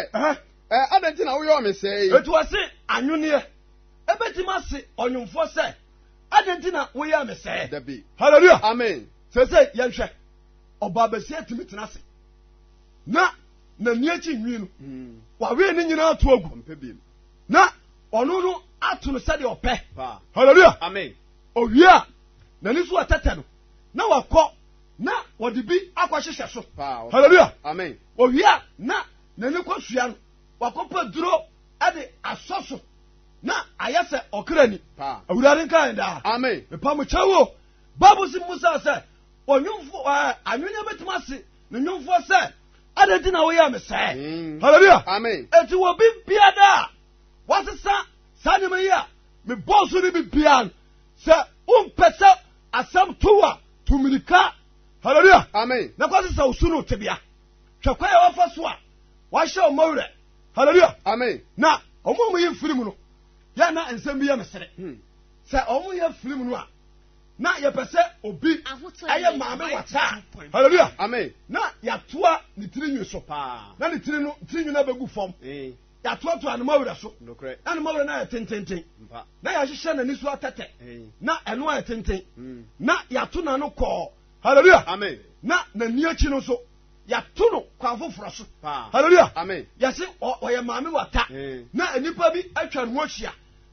Ɛɛ, adɛn nti na woyɔɔ me sɛɛ? Enti ɔse, Anwonneɛ! Ɛbɛtumi ase ɔnwomfoɔ sɛ, Adɛn nti na woyɛɛ me sɛɛ? Dabi. Hallelujah! Amen. Seesei yɛnhwɛ, ɔbaabasia tumi tena ase na n'ani akyi nwi no, hmm. wawee ne nyinaa to agu na ɔno no ato no sɛdeɛ ɔpɛ. Hallelujah! Amen. Owie a, n'ani so ɔtɛtɛ no na wakɔ na wɔde bi akɔhyehyɛ so. Hallelujah! Amen. Owie a, na N'ani kosua no, wakɔpɛ aduro de asɔ so na ayɛ sɛ ɔkra ni. Awurade nka yɛn daa. Amen. Mepa mo kyɛw o. Bible si mu sa sɛ ɔnwomfo ɛɛ anwene bɛtumi ase ne nwomfoɔ sɛ adɛn nti na woyɛ me sɛɛ. Mm. Hallelujah. Amen. Eti wɔ bi biara a wasesa saa nneɛma yi a mebɔɔ so no bi biara no sɛ wompɛ sɛ asɛm to a to mirika. Hallelujah. Amen. Na kɔsesa osu no tebea. Hwɛ kwan a wɔfa so a wɔahyɛ wɔn werɛ. Hallelujah. Amen. Na wɔn a wɔyɛ firim no, yɛ na nsɛm bi yɛ me sere. Hmm. Sɛ wɔn yɛ firim no a, na yɛpɛ sɛ obi ɛyɛ maame wataa. Hallelujah. Amen. Na yɛatoa ne tiri nwi so. Paa. Na ne tiri no tiri nwi no abɛgu fam. Eh. Yɛatoatoa ne mawura so. Nokorɛ. Na ne mawura no ayɛ tententen. Mpa. Na yɛahyehyɛ n'ani so atɛtɛ. Eh. Na ɛno ayɛ tenten. Hmm. Na yɛato n'ano kɔɔ Hallelujah. Amen. Na n'ani akyi no nso yɛato no kwan foforɔ so. Hallelujah. Amen. Yɛse ɔyɛ maame wata. Eh. Na nnipa bi atwa ne ho ahyia.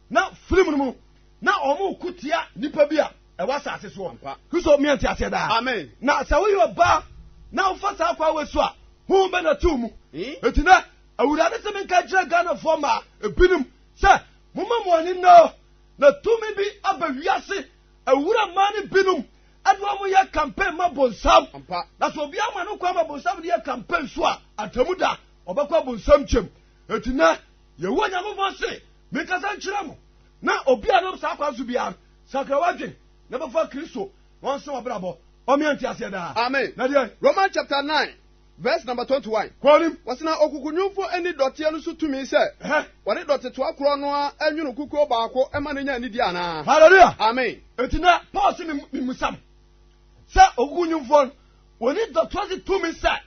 Na film no mu na wɔn ko tia nnipa bi a ɛwɔ asase soɔ. Kristo mmea nte aseɛ daa. Amen. Na sɛ woyɛ ɔbaa na wofa saa kwa wɔ so a ho bɛ na to mu. Eh? Eti na awurade sɛ menka kyerɛ Ghanafoɔ ma ebinom sɛ moma mo ani nnɔ na tumi bi aba wiase awura mmaa no binom Ɛna wɔyɛ campaign ma bonsam. Na sɛ obiara ma no kwan ma bonsam no yɛ campaign so a, atemmu da, ɔbɛkɔ abonsam kyɛm. Enti nɛ, Yehowa Nyankopɔn se, Menkasa nkyerɛ mo, na obi a ɛnam saa kwan so biara no, sakra w'adwene, na bɛfa Kristo, na ɔnsa w'abrabɔ, ɔmea nteaseɛ daa. Amen. Na deɛn? Romans chapter 9. Verse number twenty one. Kɔ nim. Wɔsi na okukunyumfo nni dɔteɛ no so tumi sɛ wɔde dɔte toa korɔ no ara nwono kukuo baako ma no nya anidie anaa. Hallelujah. Amen. Eti na Paul si mi mi musa no sɛ okukunyumfoɔ no wɔni dɔteɛ so tumi sɛ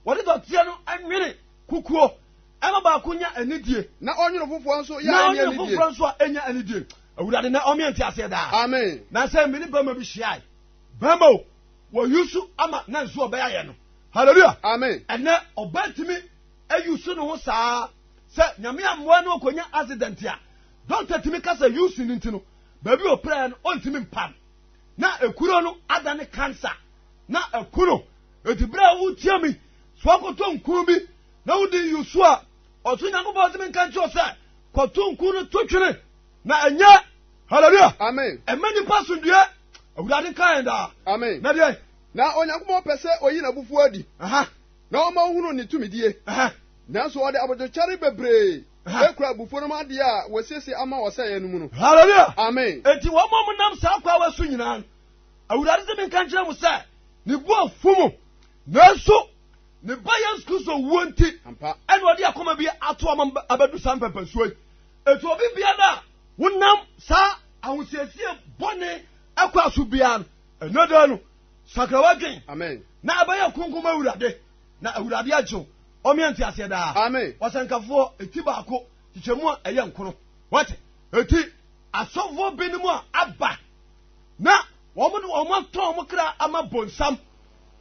wɔde dɔteɛ no nwene kukuo ɛma baako nya anidie. Na ɔnwono foforɔ nso yɛ ɛnya anidie. Na ɔnwono foforɔ nso a ɛnya anidie. Awurade na ɔmyɛ nti aseɛ daa. Amen. Na sɛ mi ne bɛrima bi hyia yi bɛrima o. Wɔyi so ama na nso ɔbɛyɛ ayɛ no. Hallelujah. Amen. Ɛnɛ ɔbɛntumi ayi so ne ho saa sɛ nyame amoa no ɔkɔnya accident a dɔkta tumi ka sɛ yusu no nti no baabi ɔpɛɛ no ɔntumi mpam na ekuro no ada ne cancer na ɛku no eti berɛ a wotia mi so akɔtɔ nkun bi na wodi yusu a ɔso nyankopɔn ɔtumi nka nkyerɛ sɛ kɔto nkun no to twene na ɛnyɛ hallelujah amen ɛmɛ nipa sundue awurade nka yɛn daa amen na deɛ na onyankopɔn pɛ sɛ oyi n'abufuo adi na ɔma ohunu ne tumidie nanso ɔde abodwokyɛre bebree ekura abufuo no mu adeɛ a wɔasiesie ama ɔsɛeɛ no mu no hallelujah amen enti wɔn a wɔnam saa kwa wɔ so nyinaa awurade sɛ menka nkyerɛ mo sɛ ne bu afu mu nanso ne ba yesu kristo wuo nti ɛna ɔde akoma bi ato ɔma abɛdu saa mpɛmpɛnsuo yi Enti obi biara a wonam saa ahosiesie bɔne akwa so biara no, ɛnɛ da no, sakra w'adwen na ɛbɛyɛ kronkron ma Awurade, na Awurade agye wo. Ɔmeɛ nte aseɛ daa. Ɔsɛnkafoɔ eti baako kyekyɛmu a ɛyɛ nkono. Wate? Eti asɔfoɔ binom a aba na wɔn de wɔn atɔn wɔn kra ama bonsam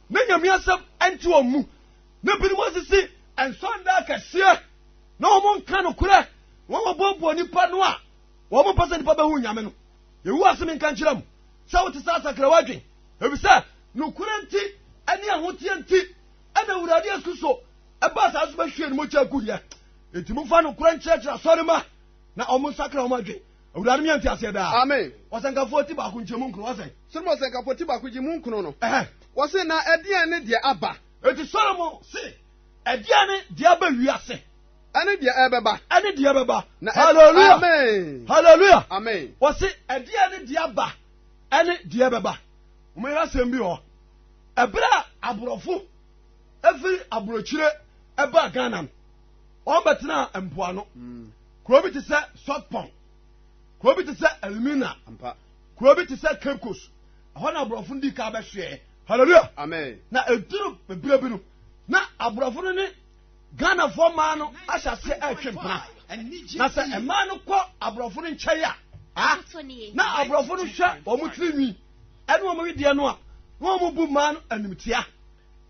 ne nyame asɛm ɛnte wɔn mu. na binom asisi nsɔnda akɛseɛ na wɔn nka nokorɛ wɔn wɔboaboa nipa no a wɔn mpɛ sɛ nipa bɛhu nyame no yɛwu ase me nka nkyerɛ mu sɛ wote sɛ asakra wadwen efisɛ nokorɛ nti ɛne ahoteɛ nti ɛna awurade asu so ɛba saa so bɛhwie no mogya gu yɛ enti momfa nokorɛ nkyerɛkyerɛ asɔre ma na ɔmo nsakra ɔmo adwen awurade meyɛ nte aseɛ daa amen ɔsɛnkafoɔ ti baako nkyɛ mu nkono wɔsɛn sɛ ɔsɛnkafoɔ ti baako gye mu nkono no wɔse na ɛdeɛn ne deɛ aba Enti Solomon se, Ɛdeɛn ne deɛ aba wiase? Ɛne deɛ ɛbɛba. Ɛne deɛ ɛbɛba. Na Hallelujah. Amen. Hallelujah. Amen. Wɔse, ɛdeɛn ne deɛ aba? Ɛne deɛ ɛbɛba. Wɔyɛ asɛm bi hɔ. Ɛberɛ a aborɔfo ɛfiri aburokyire ɛbaa Ghana no, wɔn bɛtena mpoano. Hmm. Kuro bi te sɛ Sotpon. Kuro bi te sɛ Elmina. Kuro bi te sɛ Cape Coast. Ɛhɔ na aborɔfo no dii kan bɛhwɛɛ. Hallelujah. Amen. Na eduru bere bi no, na aborɔfo no ne Ghanafoɔ mmaa no ahyɛ aseɛ ɛretwe mpena. Na sɛ mmaa no kɔ aborɔfo no nkyɛn a, ah, na aborɔfo no hwɛ wɔn tiri nwi ɛne wɔn wedeɛ no a, na wɔn bu mmaa no animtia.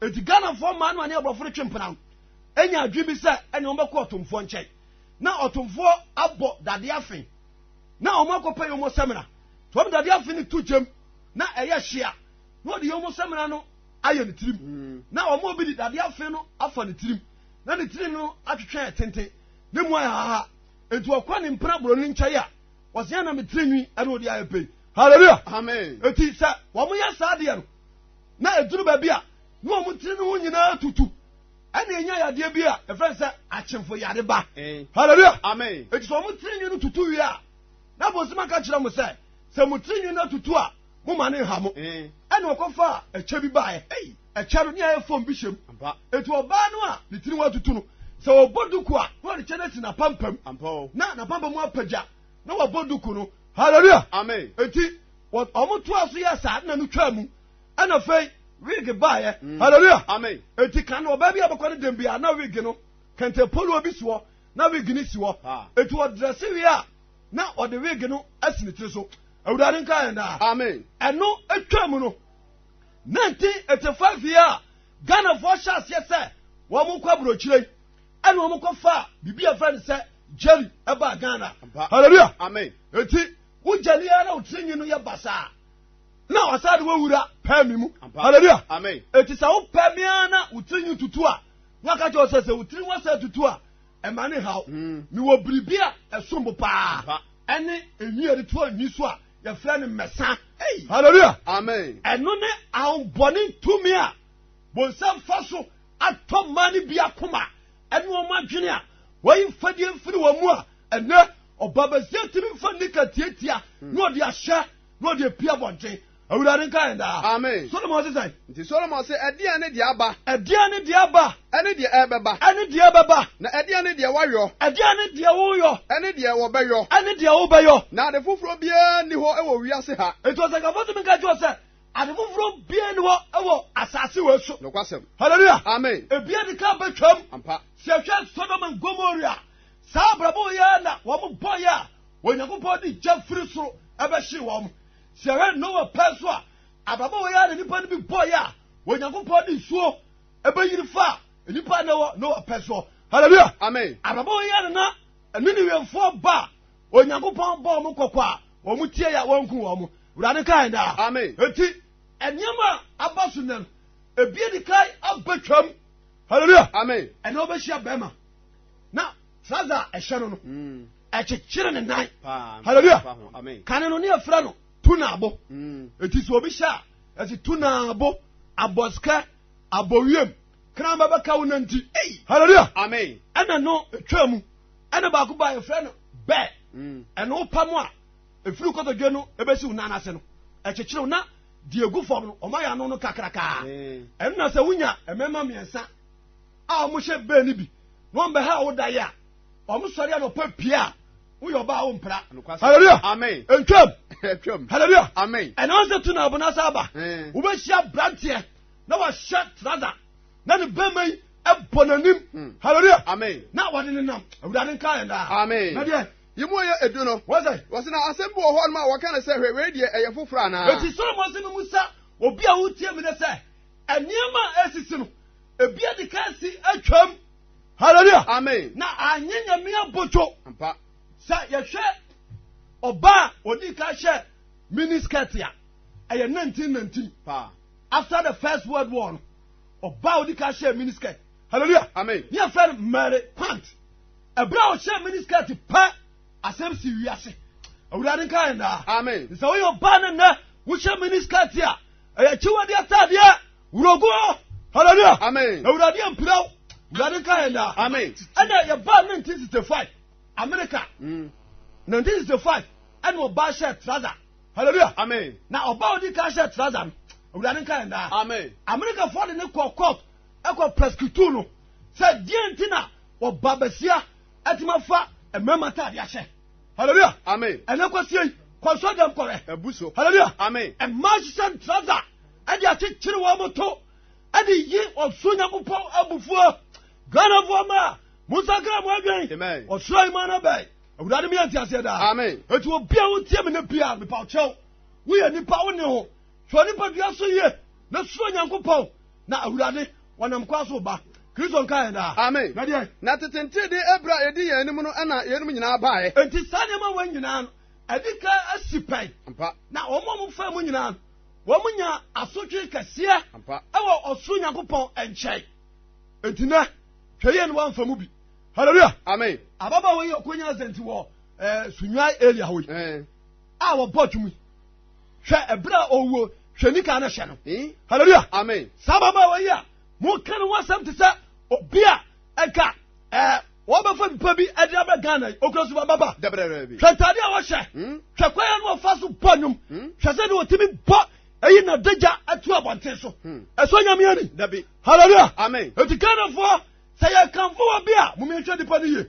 Eti Ghanafoɔ mmaa no a ne aborɔfo no twe mpena no, enya adwene bi sɛ ɛne wɔn bɛkɔ ɔtomfoɔ nkyɛn. Na ɔtomfoɔ abɔ dadeɛ afe na wɔn akɔpɛ yɔn samina nti wɔn dade afe no to gyam na ɛyɛ hyia na wɔde yɔn samina no ayɛ ne tirim hmm. na wɔn obi de dade afe no afa ne tirim na ne tirim no atwetwe tenten ne mu ayɛ haha nti wɔkɔ ne mpena boro ne nkyɛn a wɔsɛn na me tirinwi ɛna wɔde ayɛ pɛyi hallelujah amen eti sɛ wɔn yɛ saa deɛ no na eduru baabi a na wɔn tiri no ho nyinaa tutu. ɛna enya yadeɛ bi a ɛfɛn sɛ akyemfo yare ba eh. hallelujah amen eti sɛ wɔn tiri nwi no tutu wie a na bonsoma ka kyerɛ mo sɛ sɛ mo tiri nwi no atutu a mo ma ne nha mo eh. ɛna ɔkɔfa ɛkyɛ bi baeɛ ɛyi ɛkyɛ no ne ayɛ fɔm bi hyɛm eti ɔbaa no a ne tiri nwi atutu no sɛ ɔbɔ duku a na ɔde kyɛ no asi n'apampam na n'apampam apagya na wɔbɔ duku no hallelujah amen eti wɔn to aso yɛ saa na no twaa mu. ɛna afei wig baeɛ mm. hallelujah amen eti kan no ɔbaa bi a bɛkɔ ne dɛm bia na wig no kɛntɛ polo bi si hɔ na wig no si hɔ ah. eti ɔdrɛse wie a na ɔde wig no asi ne tiri so awurade nka yɛn daa amen ɛno atwa mu no nineteen eighty five yi a ghanafoɔ hyɛ aseɛ sɛ wɔn kɔ aburokyire yi ɛna wɔn kɔ fa biribi a fɛ no sɛ jerry ɛba ghana hallelujah amen eti wogya ni ara wotiri nyi no yɛ basaa. na ɔsan de wowura pɛ me mu hallelujah eti sɛ wopɛ me ara na wo tiri nwi tutu a na ɔka kyerɛ sɛ sɛ wo tiri wasɛ tutu a ɛma ne haw hmm. mewɔ biribi a ɛsom bo paa ɛne enwi a yɛde to anwi so a yɛfrɛ no mmɛsa hallelujah amen ɛno ne ahombɔne tumi a bonsam fa so atɔ mmaa no bi akoma ɛne wɔn adwene a wɔyi mfadie mfiri wɔn mu a ɛnɛ ɔbabasia tumi nfa nika tietia na ɔde ahyɛ na ɔde apue abɔnten. Awurade nka yɛn daa. Amen. Solomon se sɛn? Nti Solomon se, Ɛdeɛn ne deɛ aba? Ɛdeɛn ne deɛ aba? Ɛne deɛ ɛbɛba. Ɛne deɛ ɛbɛba. Na ɛdeɛn ne deɛ wɔayɔ? Ɛdeɛn ne deɛ woyɔ? Ɛne deɛ wɔbɛyɔ. Ɛne deɛ wobɛyɔ. Na ade foforɔ biara nni hɔ wɔ wiase ha. Nti ɔsɛnkafo tumi ka kyerɛ sɛ ade foforɔ biara nni hɔ wɔ asase wei so. Nokwasɛm. Hallelujah. Amen. Ebia de ka bɛtwam. Ampa. Sɛ ɛhwɛ Sodom and Gomorrah Saa abrabɔ yi ara na wɔn bɔeɛ a Onyankopɔn de gya firi soro bɛhyee wɔn. Sɛ yɛhwɛ Noa pɛ nso a, abrabɔ wei ara na nnipa no bi bɔeɛ a Onyankopɔn de nsuo bɛyiri faa nnipa a na ɛwɔ Noa pɛ soɔ. Hallelujah! Amen. Abrabɔ wei ara na na Ninewefoɔ ba a Onyankopɔn bɔ wɔn kɔkɔ a wɔn tie yɛ a wɔnku wɔn. Awurade ka yɛn daa. Amen. Eti nneɛma a aba so nnɛ no, ebi adi kan abɛtwam. Hallelujah! Amen. Ɛnna wɔbɛhyia bɛrima. na saa dza ɛhyɛ no no ɛkyekyere ne nan hallelujah kane no ne ɛfrɛ no tunaabo ɛti sɛ obi hyɛ a ɛsi tunaabo abɔsikɛ abɔwiem kran bɛbɛka wo nanti hallelujah amen ɛna no ɛtwa mu ɛna baako ba ɛfrɛ no bɛɛ ɛno wopa mu a ɛfiri kɔtɔdwe no ɛbɛsi wo nan ase no ɛkyekyere wo na deɛ ɛgu fam no ɔma yɛ ano no kakrakaa ɛno na sɛ wonya ɛmɛma mmiɛnsa a ɔmo hyɛ bɛn no bi na ɔmo bɛha wo da yɛ a ɔmo sɔre anɔpa pia a woyɛ ɔbaa wo mpra hallelujah amen ntwam ntwam hallelujah amen ɛna wɔn sɛ tu na abona sa aba eh. wobɛhyia branteɛ na wahyɛ trada na ne bɛma yi ɛbɔ n'anim hmm. hallelujah amen na wɔde ne nam awurade nka yɛn daa amen na deɛ yìí mu yɛ edu no. wọ́n sẹ́. wọ́n sẹ́ na asẹ́m bi wɔ hɔ ɔnum a wɔka ne sɛ hwɛ wei deɛ ɛyɛ foforɔ anaa. eti sọlọmọ sẹ mi mu sá obi a wotie mi ne sɛ Nneɛma a esisi no, ebi adi kan si atwam. Hallelujah. Amen. Na anye nyame abodwo. Ampa. Sɛ yɛhwɛ ɔba a odi kan hyɛ mini skirt a ɛyɛ 1919. Paa. After the first world war no, ɔba a odi kan hyɛ mini skirt. Hallelujah. Amen. Ní afẹ́ no Mary Quant. Ẹ̀bùrẹ́ a ọ̀hyẹ́ mini skirt pẹ́ asẹ́m si wíyá se. Awurade nka yẹn daa. Amen. Sɛ woyɛ ɔbaa ne nnɛ wohyɛ mini skirt a Ɛyɛ akyiwade ataadeɛ. Wurogo. Hallelujah. Amen. Awurade ampira wo. Awurade nka yɛn daa. Amen. Ɛna yɛbaa 1965 America. Mm. 1965 ɛna ɔbaa hyɛ trouser. Hallelujah. Amen. Na ɔbaa odi kan hyɛ trouser no. Awurade nka yɛn daa. Amen. America fɔ de ne kɔ court ɛkɔ prosecutor no sɛ deɛ nti na ɔba basia ɛtuma fa mmarima ataadeɛ ahyɛ. Hallelujah. Amen. Ɛnɛ kwasia yi kɔnsɔ dɛm kɔrɛ. Ɛbu so. Hallelujah. Amen. Ɛmaa hyehyɛ ntraza ɛde akyekyere wɔn mo to ɛde yi ɔsoro nyakopɔn abufuo. Ghanafoɔ ma mo nsakra mo adwen. Amen. Ɔsoro ayima no bɛn. Awurade mi yɛ nti aseɛ daa. Amen. Etu obi a wotie mi ne bia mepa ɔkyɛw. Woyɛ nipa wo ne ho. Hwɛ wo nipadua so yie na suro Nyankopɔn na Awurade wɔnam kwa so ba. Kristo nka yɛn daa. Amen. Na deɛ. Na tete nteedee ɛberɛ a ɛdi yɛn anim no ɛna yeinom nyinaa baeɛ. Enti saa nneɛma wei nyinaa no ɛdi kan asi pɛn. Ampa. Na wɔn a wɔfaa mu nyinaa no wɔn nya asotwe kɛseɛ. Ampa. Ɛwɔ ɔsoro Nyankopɔn ɛnkyɛn. Enti nɛ hwɛ yie no wɔamfa mu bi. Hallelujah. Amen. Ababaawa yi ɔkɔnya asɛnti wɔ ɛɛ eh, sunwae area hɔ yi. Ɛɛ. Eh. A wɔbɔ twumi. hwɛ ɛberɛ a ɔwuo hwɛ nika no hyɛ no halleluya amen saa ababaawa yi a moka no ho asɛm te sɛ obi a ɛka ɛɛ wɔbɛfa nipa bi ɛde abɛ ghana yi okura so bababa hwɛ ntaade a wɔhyɛ hmm? hwɛ kwan a wɔfa so bɔ nnwom hmm? hwɛ sɛ de wɔtumi bɔ eyi na dagya atu abɔnten so hmm. ɛsɔ nyame ani dabi hallelujah amen eti ghanafoɔ sɛ yɛ kanfo wɔ bi a mo mi nhwɛ nipa no yie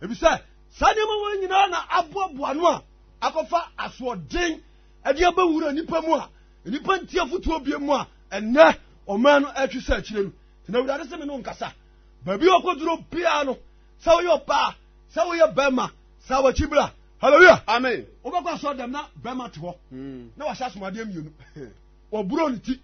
ebi sɛ saa nneɛma wɔn nyinaa na aboaboa no a. akɔfa asoɔden de abɛwura nnipa mu a nnipa nti afotuo bie mu a ɛnɛ ɔman no ɛtwe sɛ akyire no nti na awurade sɛ me no nkasa baabi a ɔkɔduro biara no sɛ woyɛ ɔbaa sɛ woyɛ bɛrima sɛ awakyi bra hallelujah amen wobɛkɔ asɔ dɛm na bɛrima te hɔ hmm. na wahyɛ asomadeɛ mmienu wɔburo ne ti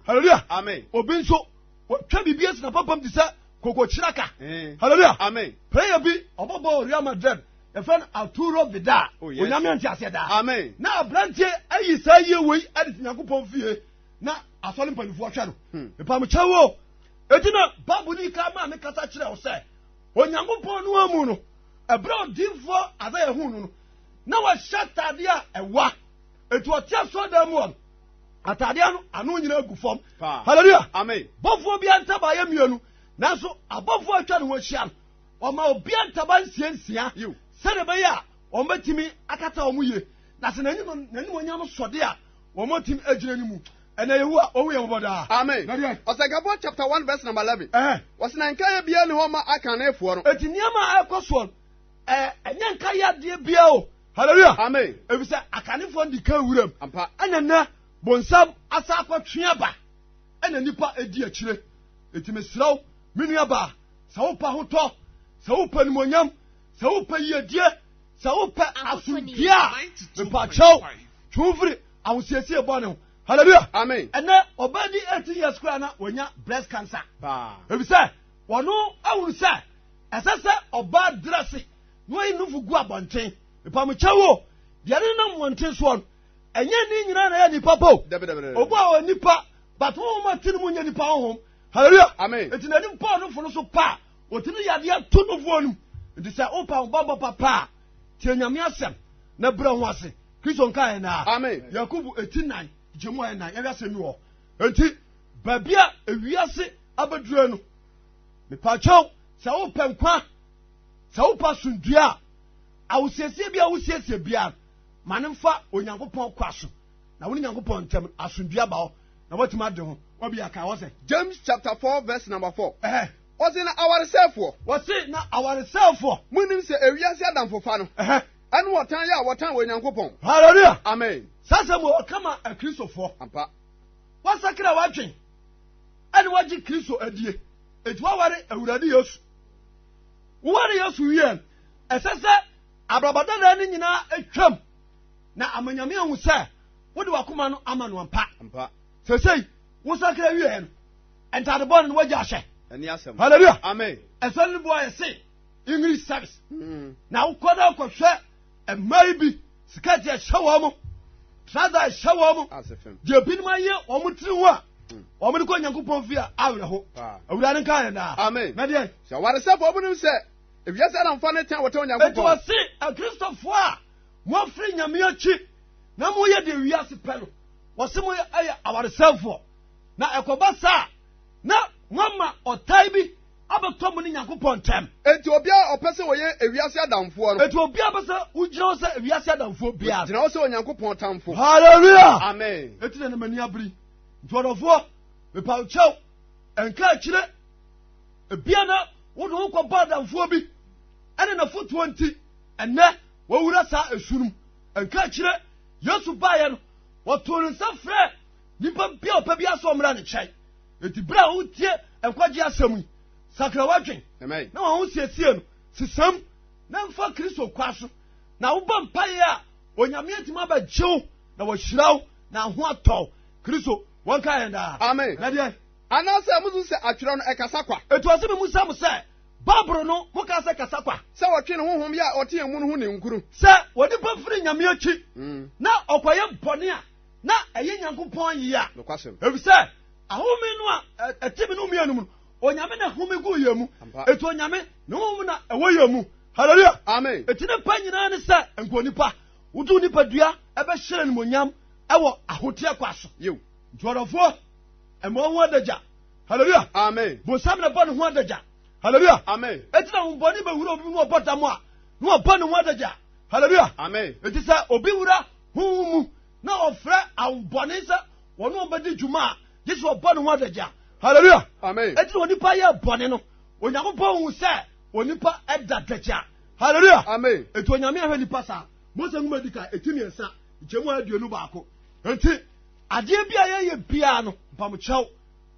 hallelujah amen obi nso wɔtwa biribi asi na papam te sɛ kokokyeraka hmm. hallelujah amen prayer bi ɔbɔbɔ real madrid yɛfrɛ no arturo vidal oh, onyame ante aseɛ daa na aberanteɛ ayi saa yie wei ade to nyankopɔn fie na asɔre mpanimfoɔ hwɛ no hmm. mepamokyɛ wo ɛti na bible ne ka maa me kasa kyerɛ wo sɛ onyankopɔn no amu no ɛberɛ ɔdinfoɔ adɛ yɛ hu no no na wahyɛ ataadeɛ a ɛwa ɛti ɔte asoɔ dan mu ɔno ataadeɛ no ano nyina agu fam halleluya bɔfoɔ bi antabaeɛ mmienu nanso abɔfoɔ atwa ne ho ahyia no Wɔma obiara ntaban nsia nsia sɛdeɛ ɛbɛyɛ a wɔbɛtumi akata wɔn yie na sɛ n'animuonyam sɔde a wɔatumi agyina no mu. Ɛna Yehowa ɔhu yɛn mmɔbɔ daa. Amen. Ɔsɛnkafo chapter one verse number eleven. Wɔsi na nkaeɛ biara ni hɔ ma akannefoɔ no. Eti nneɛma a ɛkɔ soɔ no, ɛɛ ɛnyɛ nkaeɛ adeɛ biara o. Hallelujah. Amen. Efisɛ akannefoɔ no di kan wuram. Ampa. Ɛna nɛ bonsam asa akɔtwe aba. Ɛna nipa edi akyire. Eti mesrɛw, me nua baa. sɛ wopɛ ahotɔ sɛ wopɛ nimonyam sɛ wopɛ yiedie sɛ wopɛ asomdue a mepakyɛw twe wo firi ahosiesie bɔne ho hallelujah amen ɛnɛ ɔbaa di 18 years koraa na wanya breast cancer efisɛ wɔno ahunu sɛ ɛsɛ sɛ ɔbaa drɛse na wayi nofo gu abɔnten mepamokyɛ wo deɛ ne nam wɔnten soɔ no ɛnyɛ ne nyinaa na ɛyɛ nipa po obu a ɔyɛ nipa but honhom a te no mu nyɛ nipa honhom hallelujah amen nti n'anim paul no fo no so pa a wɔtumi yɛ adeɛ to no foɔ no nti sɛ wopa wo bambɔ papa a tie nyame asɛm na brɛ ho ase kristo nka yɛ naa amen yakobo ɛti nan gye mu ayɛ nan yɛhwɛ asɛm bi wɔ nti baabi a ewiase abɛdurɛ no mepakyɛw sɛ wopɛ nkwa sɛ wopa somdua a awosiesie bi a wosiesie biara ma ne mfa onyankopɔn kwa so na wo ne nyankopɔn ntam asomdua ba hɔ Na woatumi ade ho obi aka hɔ sɛ. James chapter four verse number four. Ɛhɛ. Ɔse na awaresɛefoɔ. Wɔse na awaresɛefoɔ. Monim sɛ ewiase adamfofa no. Ɛhɛ. Ɛne ɔtan yɛ a wɔtan wɔ Onyankopɔn. Hallelujah. Amen. Saa asɛm wɔ ɔka ma akristofoɔ. Ampa. Wasakra w'adwen ɛne wagye Kristo adie. Enti waware Awurade Yesu. Woware Yesu wie ɛsɛ sɛ abrabɔ dada no nyinaa atwam na amanyame ahu sɛ wode wakoma no ama no ampa sɛsei wosakra wieɛ no ntade bɔne no wagya ahyɛ halleluya amen ɛsɛ no boa yɛ se english service mm. na wokɔ na akɔhwɛ mmaa yi bi skirt ɛhyɛ wɔn mo trouser ɛhyɛ wɔn mo deɛ binom ayɛ wɔn tiri ho a mm. wɔn de kɔ nyankopɔn fie a awerɛ ho awura no nka yɛn daa amen na deɛ sɛ waresɛfoɔ binom sɛ ewiase aramfa ne tɛn wɔtɛ onyankopɔn ɛtɔ se akristofoɔ a moafiri nyame akyi na moyɛ deɛ wiase pɛ no wɔse mo yɛ awaresɛfoɔ na ɛkɔba saa na moama ɔtan bi abɛtɔ mo ne nyankopɔn ntam enti obiara ɔpɛ sɛ wɔyɛ ewiase adamfoɔ no enti obiara pɛ sɛ wogyina hɔ sɛ ewiase adamfoɔ biara gyina hɔ sɛ onyankopɔn tamfo hallelujah amen enti na ne m'ani abiri nti ɔdɔfoɔ mepaw kyɛw ɛnka akyire ebia na wode wo kɔbɔ adamfoɔ bi ɛne nafotoɔ nti ɛnɛ wɔwura saa esu no mu Nkakyire, Yesu baeɛ no, wɔtoo ne nsa frɛɛ nipa bi a ɔpɛ biara sɛ ɔmmra ne kyɛn. Enti berɛ a wotie nkwagye asɛm yi, sakra w'adwen na wɔn ho siesie no, sesam na mfa Kristo kwa so, na wobɔ mpaeɛ a Onyame atumi abɛgye wo na wɔahyira wo na ho atɔ wo. Kristo wɔnka yɛn daa. Amen. Na deɛ. Anaasɛ musu sɛ atwerɛ no ɛkasa kwa? Ɛtoa so me mu sa mo sɛ. Bible no mu ka sɛ kasa kwa. Sɛ wɔtwe ne honhom yɛ a ɔte yɛn mu no ho ninkunu. Sɛ onipa firi Nyame akyi mm. na ɔkɔyɛ bɔne a, na ɛyɛ Nyankopɔn yea. Efisɛ ahome no a ɛte me no mu anum no, Onyame na home gu yɛn mu. Eti Onyame ne honhom na ɛwɔ yɛn mu. Hallelujah. Amen. Eti ne pa nyinaa ne sɛ nka onipa wotu nipadua ɛbɛhyerɛ ne monyam ɛwɔ ahoteɛ kwa so. Nti ɔdɔfoɔ ɛmɔ ho adagya. Hallelujah. Amen. Bonsam na bɔ ne ho adagya. Hallelujah. Amen. Eti na wɔn bɔne bɛwura obi mu na ɔbɔ dam a na ɔbɔ ne ho adagya. Hallelujah. Amen. Eti sɛ obi wura honhom mu na ɔfrɛ ahobɔne sɛ wɔn a wɔbɛdi dwuma a gye sɛ ɔbɔ ne ho adagya. Hallelujah. Amen. Eti na onipa yɛ bɔne no Onyankopɔn hu sɛ onipa ɛda dagya. Hallelujah. Amen. Eti onyame ahwɛ nipa saa. Mose nwoma di ka eti mmiɛnsa nkyɛmu aduonu baako. Eti Adeɛ bi a yɛyɛ biara no, mpamokyɛw,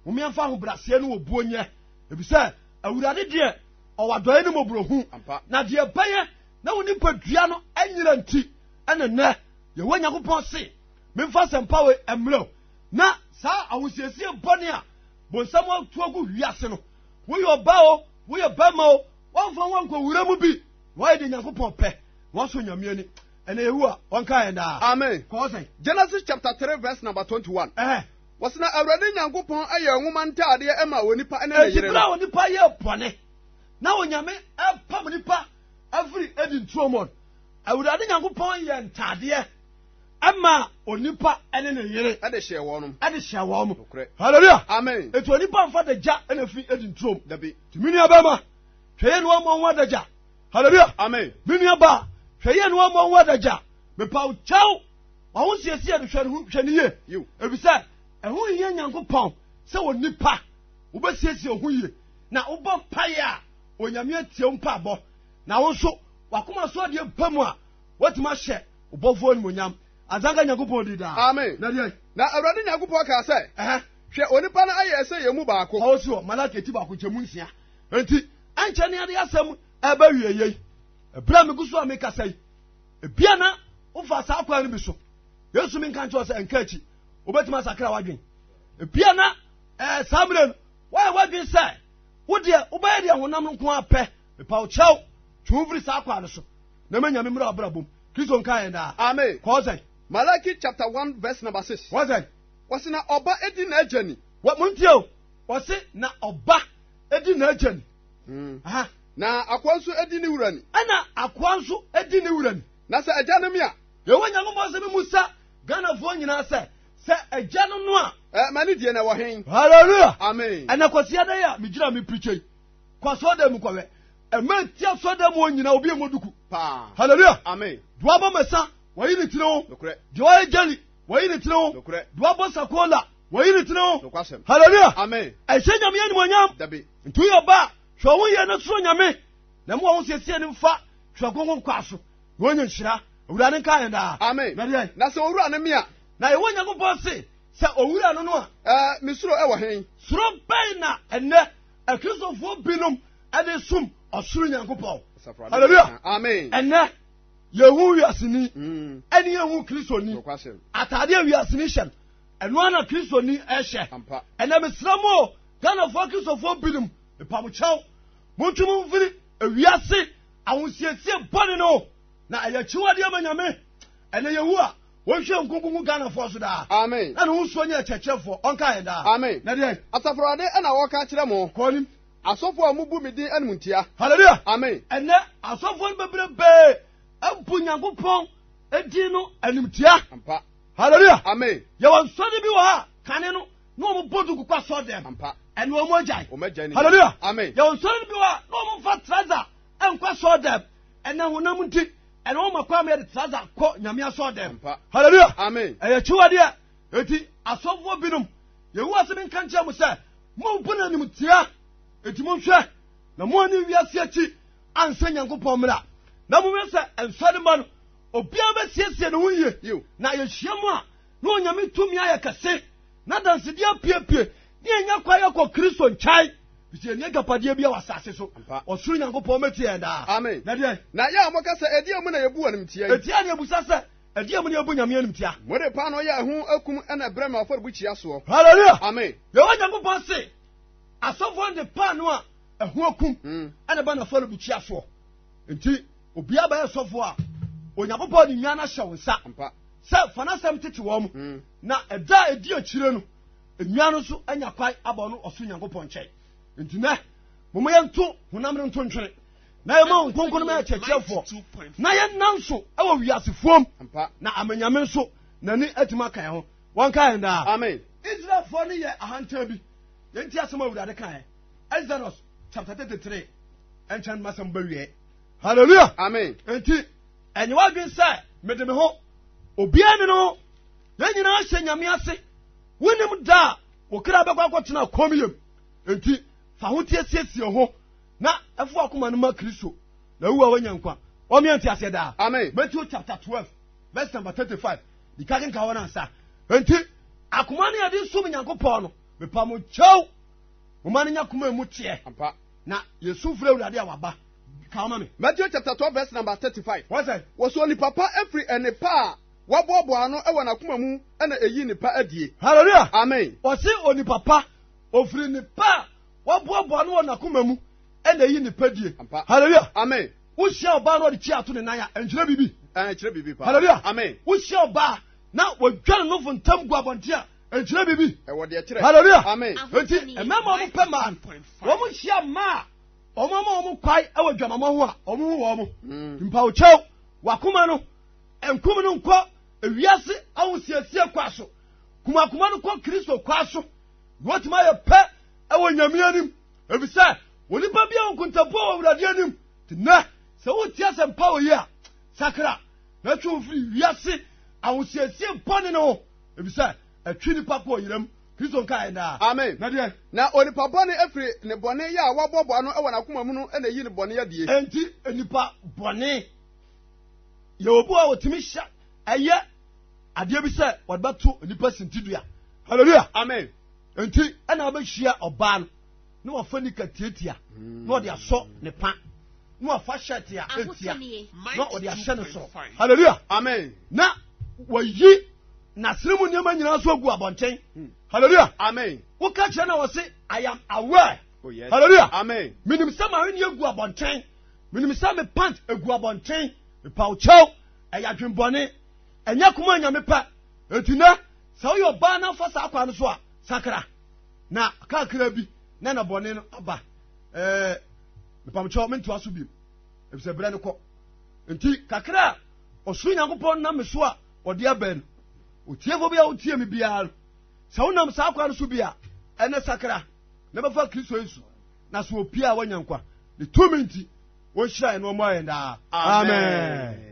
hom yɛmfa ahobrɛaseɛ ne obuo nyɛ, efisɛ Awurade deɛ ɔwɔ adɔeɛ ne mmɔborɔhunu, na deɛ ɛbɛyɛ na wo nipadua no anyera nti ɛne nnɛ Yehowa Nyankopɔn se memfa asɛmpa wei mmerɛ wo, na saa ahosiesie bɔne a bonsam atu agu wiase no, woyɛ ɔbaa o, woyɛ barima o, wɔmfa wo nkɔ wura mu bi. Why de Nyankopɔn pɛ? Wọ́n sọ Nyame ani. Ẹnna Yehowa ọnka yẹn daa. Amen. Kọ́ sẹ́n. Genesis chapter three verse number twenty one. Ẹhẹn. Wɔsi na Awurade Nyankopɔn yɛ nwoma ntaadeɛ ɛma onipa ɛne ne yere no. Eti bere a onipa yɛ bɔne na onyame ɛpam nipa afiri edi ntuo mu no, Awurade Nyankopɔn yɛ ntaadeɛ ɛma onipa ɛne ne yere. Ɛde hyɛ wɔn. Ɛde hyɛ wɔn. Hallelujah. Amen. Eti onipa nfa de gya ɛna fi edi ntuo mu. Dabi. Tumi ni abɛma. hwɛ yɛ ne wɔmmɔ ho adagya hallelujah amen me nua ba hwɛ yɛ ne wɔmmɔ ho adagya mepaw kyɛw wawo nsiesie no hwɛ ne ho hwɛ ne yie efisɛ ɛho hia nyankopɔn sɛ wɔ nipa wobɛsiesie ho yie na wobɔ mpaeɛ a onyame atie wo mpaebɔ na wo nso wakoma so adeɛ ba mu a woatumi ahyɛ wobɔfoɔ animonyam asanka nyankopɔn di daa na deɛ na awurade nyankopɔn kaa sɛ hwɛ onipa no ayɛ sɛ yɛ mu baako ɔwɔ so wɔ malaka ti baako nkyɛmu nsia Enti ɛnkyɛ ne ade asɛm ɛreba wieɛ yi. Ɛberɛ a megu so a mekasa yi, ebia na wofa saa kwan no bi so. Yesu mi nka nkyerɛ sɛ nka akyi, wobɛtumi asakra w'adwene. Ebia na ɛɛ eh, saa mmerɛ no woayɛ w'adwene sɛ wo deɛ wobɛyɛ deɛ honam no nko apɛ. Mepa wo kyɛw, twe wo firi saa kwan no so na ma Nyame mmra w'abrabɔ mu. Kristo nka yɛn daa. Amen. Kɔɔ sɛn? Malaki chapter one verse number six. Kɔɔ sɛn? Wɔsi na ɔba edi n'agya ni. Wɔ mo ntie o. Wɔse na ɔba di n'agya ni. Hmm. Na akoa nso di ne wura ni. Ɛna akoa nso di ne wura ni. Na sɛ agya no me a. Yɛwɔ Nyankopɔn sɛ memu sa Ghanafoɔ nyinaa sɛ sɛ agya no no a. Ɛ ma ne die na ɛwɔ hen. Hallelujah. Amen. Ɛna kwasi adan a megyina me pirikya yi. Kɔ asɔɔdan mu kɔwɛ. Ɛma eti asɔɔdan mu nyinaa obi a ɛmɔ duku. Paa. Hallelujah. Amen. Duaba mɛsa wɔyi ne tiri ho. Nokorɛ. Deɛ ɔyɛ gyali Wɔyi ne tiri ho. Nokorɛ. Duabɔ sakola. Wɔyi ne tiri ho. Nokwasɛm. Hallelujah. Amen. Ɛhyɛ Nyame yɛ animuonyam. Dabi. Nti woyɛ ɔba a, hwɛ wo yie na suro Nyame. Na mu a wo siesie ne mfa twerɛ kronkron kɔ aso. Na wɔnyɛ nhyira. Awurade nka yɛn daa. Amen. Na deɛ. Na sɛ owura no me a. Na yɛwɔ Nyankopɔn se sɛ owura no no a. Ɛɛ me suro ɛwɔ hen? Suro bɛn na ɛnɛ akristofoɔ binom ɛde som ɔsoro Nyankopɔn? Hallelujah. Amen. Ɛnɛ. yɛn ho wiaseni mm. ɛne yɛn ho kristoni ataadeɛ wiaseni hyɛ no ɛno ara na kristoni ɛhyɛ ɛnna mesrɛ mo o ghanafoɔ kristofoɔ binom mpamokyɛw montwe mo mfiri ewiase ahosiesie bɔne no na ɛyɛ akyiwadeɛ ma nyame ɛnna yɛwu a wɔnhwɛ nkonkonko ghanafoɔ so daa amen na ne ho suo nyɛ akyerɛkyerɛfoɔ ɔnka yɛn daa amen na deɛ asafo awurade ɛna wɔka kyerɛ mo kɔɔnim Asɔfo a wɔbu me din animtia. Hallelujah. Amen. Ɛnɛ asɔfo no bebrebee abu Nyankopɔn din no animtia. Ampa. Hallelujah. Amen. Yɛwɔ nsɔre bi wɔ ha kane no na wɔn bɔ duku kɔ asɔre dɛm. Ampa. Ɛnna wɔn agyae. Wɔn agyae ne. Hallelujah. Amen. Yɛwɔ nsɔre bi wɔ ha na wɔn fa traza nkɔ asɔre dɛm. Ɛnna honam nti ɛnna wɔn akɔ ama yɛde traza kɔ nyame asɔre dɛm. Ampa. Hallelujah. Amen. Ɛyɛ akyiwadeɛ. Enti asɔfoɔ binom, Yehowa asɛm nka nkyerɛ mo sɛ, Mompo n'animtia, enti monhwɛ na moanni wiase akyi ansɛ Nyankopɔn mmara, na monhwɛ sɛ nsɔremma no obiara bɛsiesie ne ho yie, na yɛhyia mu a na Onyame tumi ayɛ kɛse, na adansedie apiepie, na yɛnya kwan akɔ Kristo nkyɛn, efisɛ yɛnni agyapadeɛ biara wɔ asase so, ɔsoro Nyankopɔn bɛtie yɛn daa. Amen. Na deɛn? Na yɛn a moka sɛ, Ɛdeɛn mu na yɛbu wo animtia yi? Enti yɛn na yɛbisa sɛ, Ɛdeɛn mu na yɛbu Nyame animtia? Mode paanoo yɛ ɛho akum na ɛbrɛ me afɔrebukyia soɔ. Hallelujah! Amen. Yehowa Nyankopɔn se asɔfoɔ no de paanoo a ɛho akum hmm. na ɛba n'afɔrebukyia soɔ. Nti obiara bɛyɛ sɔfoɔ a Onyankopɔn de nnuan ahyɛ wo nsa sɛ fa n'asɛm tete wɔn mu hmm. na ɛda a ɛdi akyire no nnuan no nso anya kwan abɔ no ɔso Nyankopɔn nkyɛn. Nti nɛ, momo yɛnto honam no nto ntwene na yɛma wɔn kronkron ma yɛkyerɛkyerɛfoɔ na yɛnna nso wɔ wiasefoɔm na amanyame nso n'ani atumi aka yɛn ho wɔnka yɛn daa israelfoɔ no yɛ ahantan bi yɛnti asɛm a awurade ka yɛn exodus chapter 33 ɛnkyɛn no masɛm bɛwiɛ halleluya amen enti ɛnyɛ w'adwene sɛ mede me ho obiara ne no yɛn nyinaa hyɛ nyame ase wonim da a wo kra bɛkɔ akɔtena kɔm yam enti fa ho tiasiesie ho Na ɛfo akoma no ma Kristo, na ɛwu a wanya nkwa. Wɔn yɛn ti aseɛ daa. Amen. Matthew chapter twelve verse number thirty five. Dika kenka hɔ nansa. Nti akoma no yɛde som Nyankopɔn no, mepa mo kyɛw. Mo ma no nya koma emu teɛ. Ampa. Na yɛsu fura awurade a waba. Ka ɔma me. Matthew chapter twelve verse number thirty five. Wọ́n sẹ́. Wọ́sọ nipa pa efiri ẹni pa a waboaboa ano ẹwọ n'akoma mu ẹna eyi nipa adie. Hallelujah. Amen. Wọ́sẹ onipa pa ofiri nipa a. Waboaboa no wɔ n'akoma mu ɛna eyi ne pɛdie. Hallelujah. Amen. Wohyia ɔbaa na ɔde kyi ato ne nan a ɛnkyerɛ biribi. Ɛnkyerɛ biribi paa. Hallelujah. Amen. Wohyia ɔbaa na wɔdwa ne nofo ntam gu abɔnten a ɛnkyerɛ biribi. Ɛwɔ deɛ kyerɛ. Hallelujah. Amen. Enti mmarima wɔn pɛ maa no. Wɔn hyia mmaa a wɔn ama wɔn kwae wɔ dwamamɔ ho a wɔn ho wɔn. Hmm. Mpawokyɛw wakoma no nkum no nkɔ ewiase ahosiesie kwa so. Kumakuma no kɔ Kristo kwa so. Wɔatumi ayɛ pɛ wɔ Nyame anim, efisɛ onipa biara wɔ nkontapo wɔ Awurade anim. Tena sɛ wotie asɛmpa wɔ yi a, sakra na twe wo firi wiase ahosiesie bɔne no ho, efisɛ ɛtwe nipa kɔ ɔyeram. Kristo nka yɛn daa. Amen. Na deɛ. Na onipa bɔne afiri ne bɔne yɛ a waboaboa ano wɔ n'akoma mu no na eyi ne bɔne adie. Enti nipa bɔne yɛ obu a otumi hyɛ ɛyɛ. adeɛ bi sɛ wɔde bɛto nipa sintidua hallelujah amen nti ɛna wabɛhyia ɔbaa no na wafa nika tiatia na ɔde asɔ ne pa na wafa hyɛte a ɛtia na ɔde ahyɛ ne soro hallelujah amen na wayi n'asene mu nneɛma nyinaa so agu abɔnten hmm. hallelujah amen woka kyerɛ na wɔse i am aware oh, yes. hallelujah amen menim sɛ ma wene agu abɔnten menim sɛ me pant agu abɔnten mepawkyɛw Ɛyɛ adwembɔne, ɛnyɛ koma nyame pɛ. Enti nɛ, sɛ woyɛ ɔbaa na wofa saa kwa no so a, sakra, na kakra bi na ɛna bɔne no aba. Ɛɛ, mpamkyɛw mentoa so bim, efisɛ berɛ no kɔ. Enti kakra a ɔsoro Nyankopɔn nam me so a ɔde abɛn no, otiefo bi a wotie me biara no, sɛ wonam saa kwa no so bi a, ɛnɛ sakra na bɛfa Kristo Yesu, na sɛ opie a wanya nkwa ne tumi nti. Wɔnhyira yɛn na wɔmmɔ yɛn daa. Amen.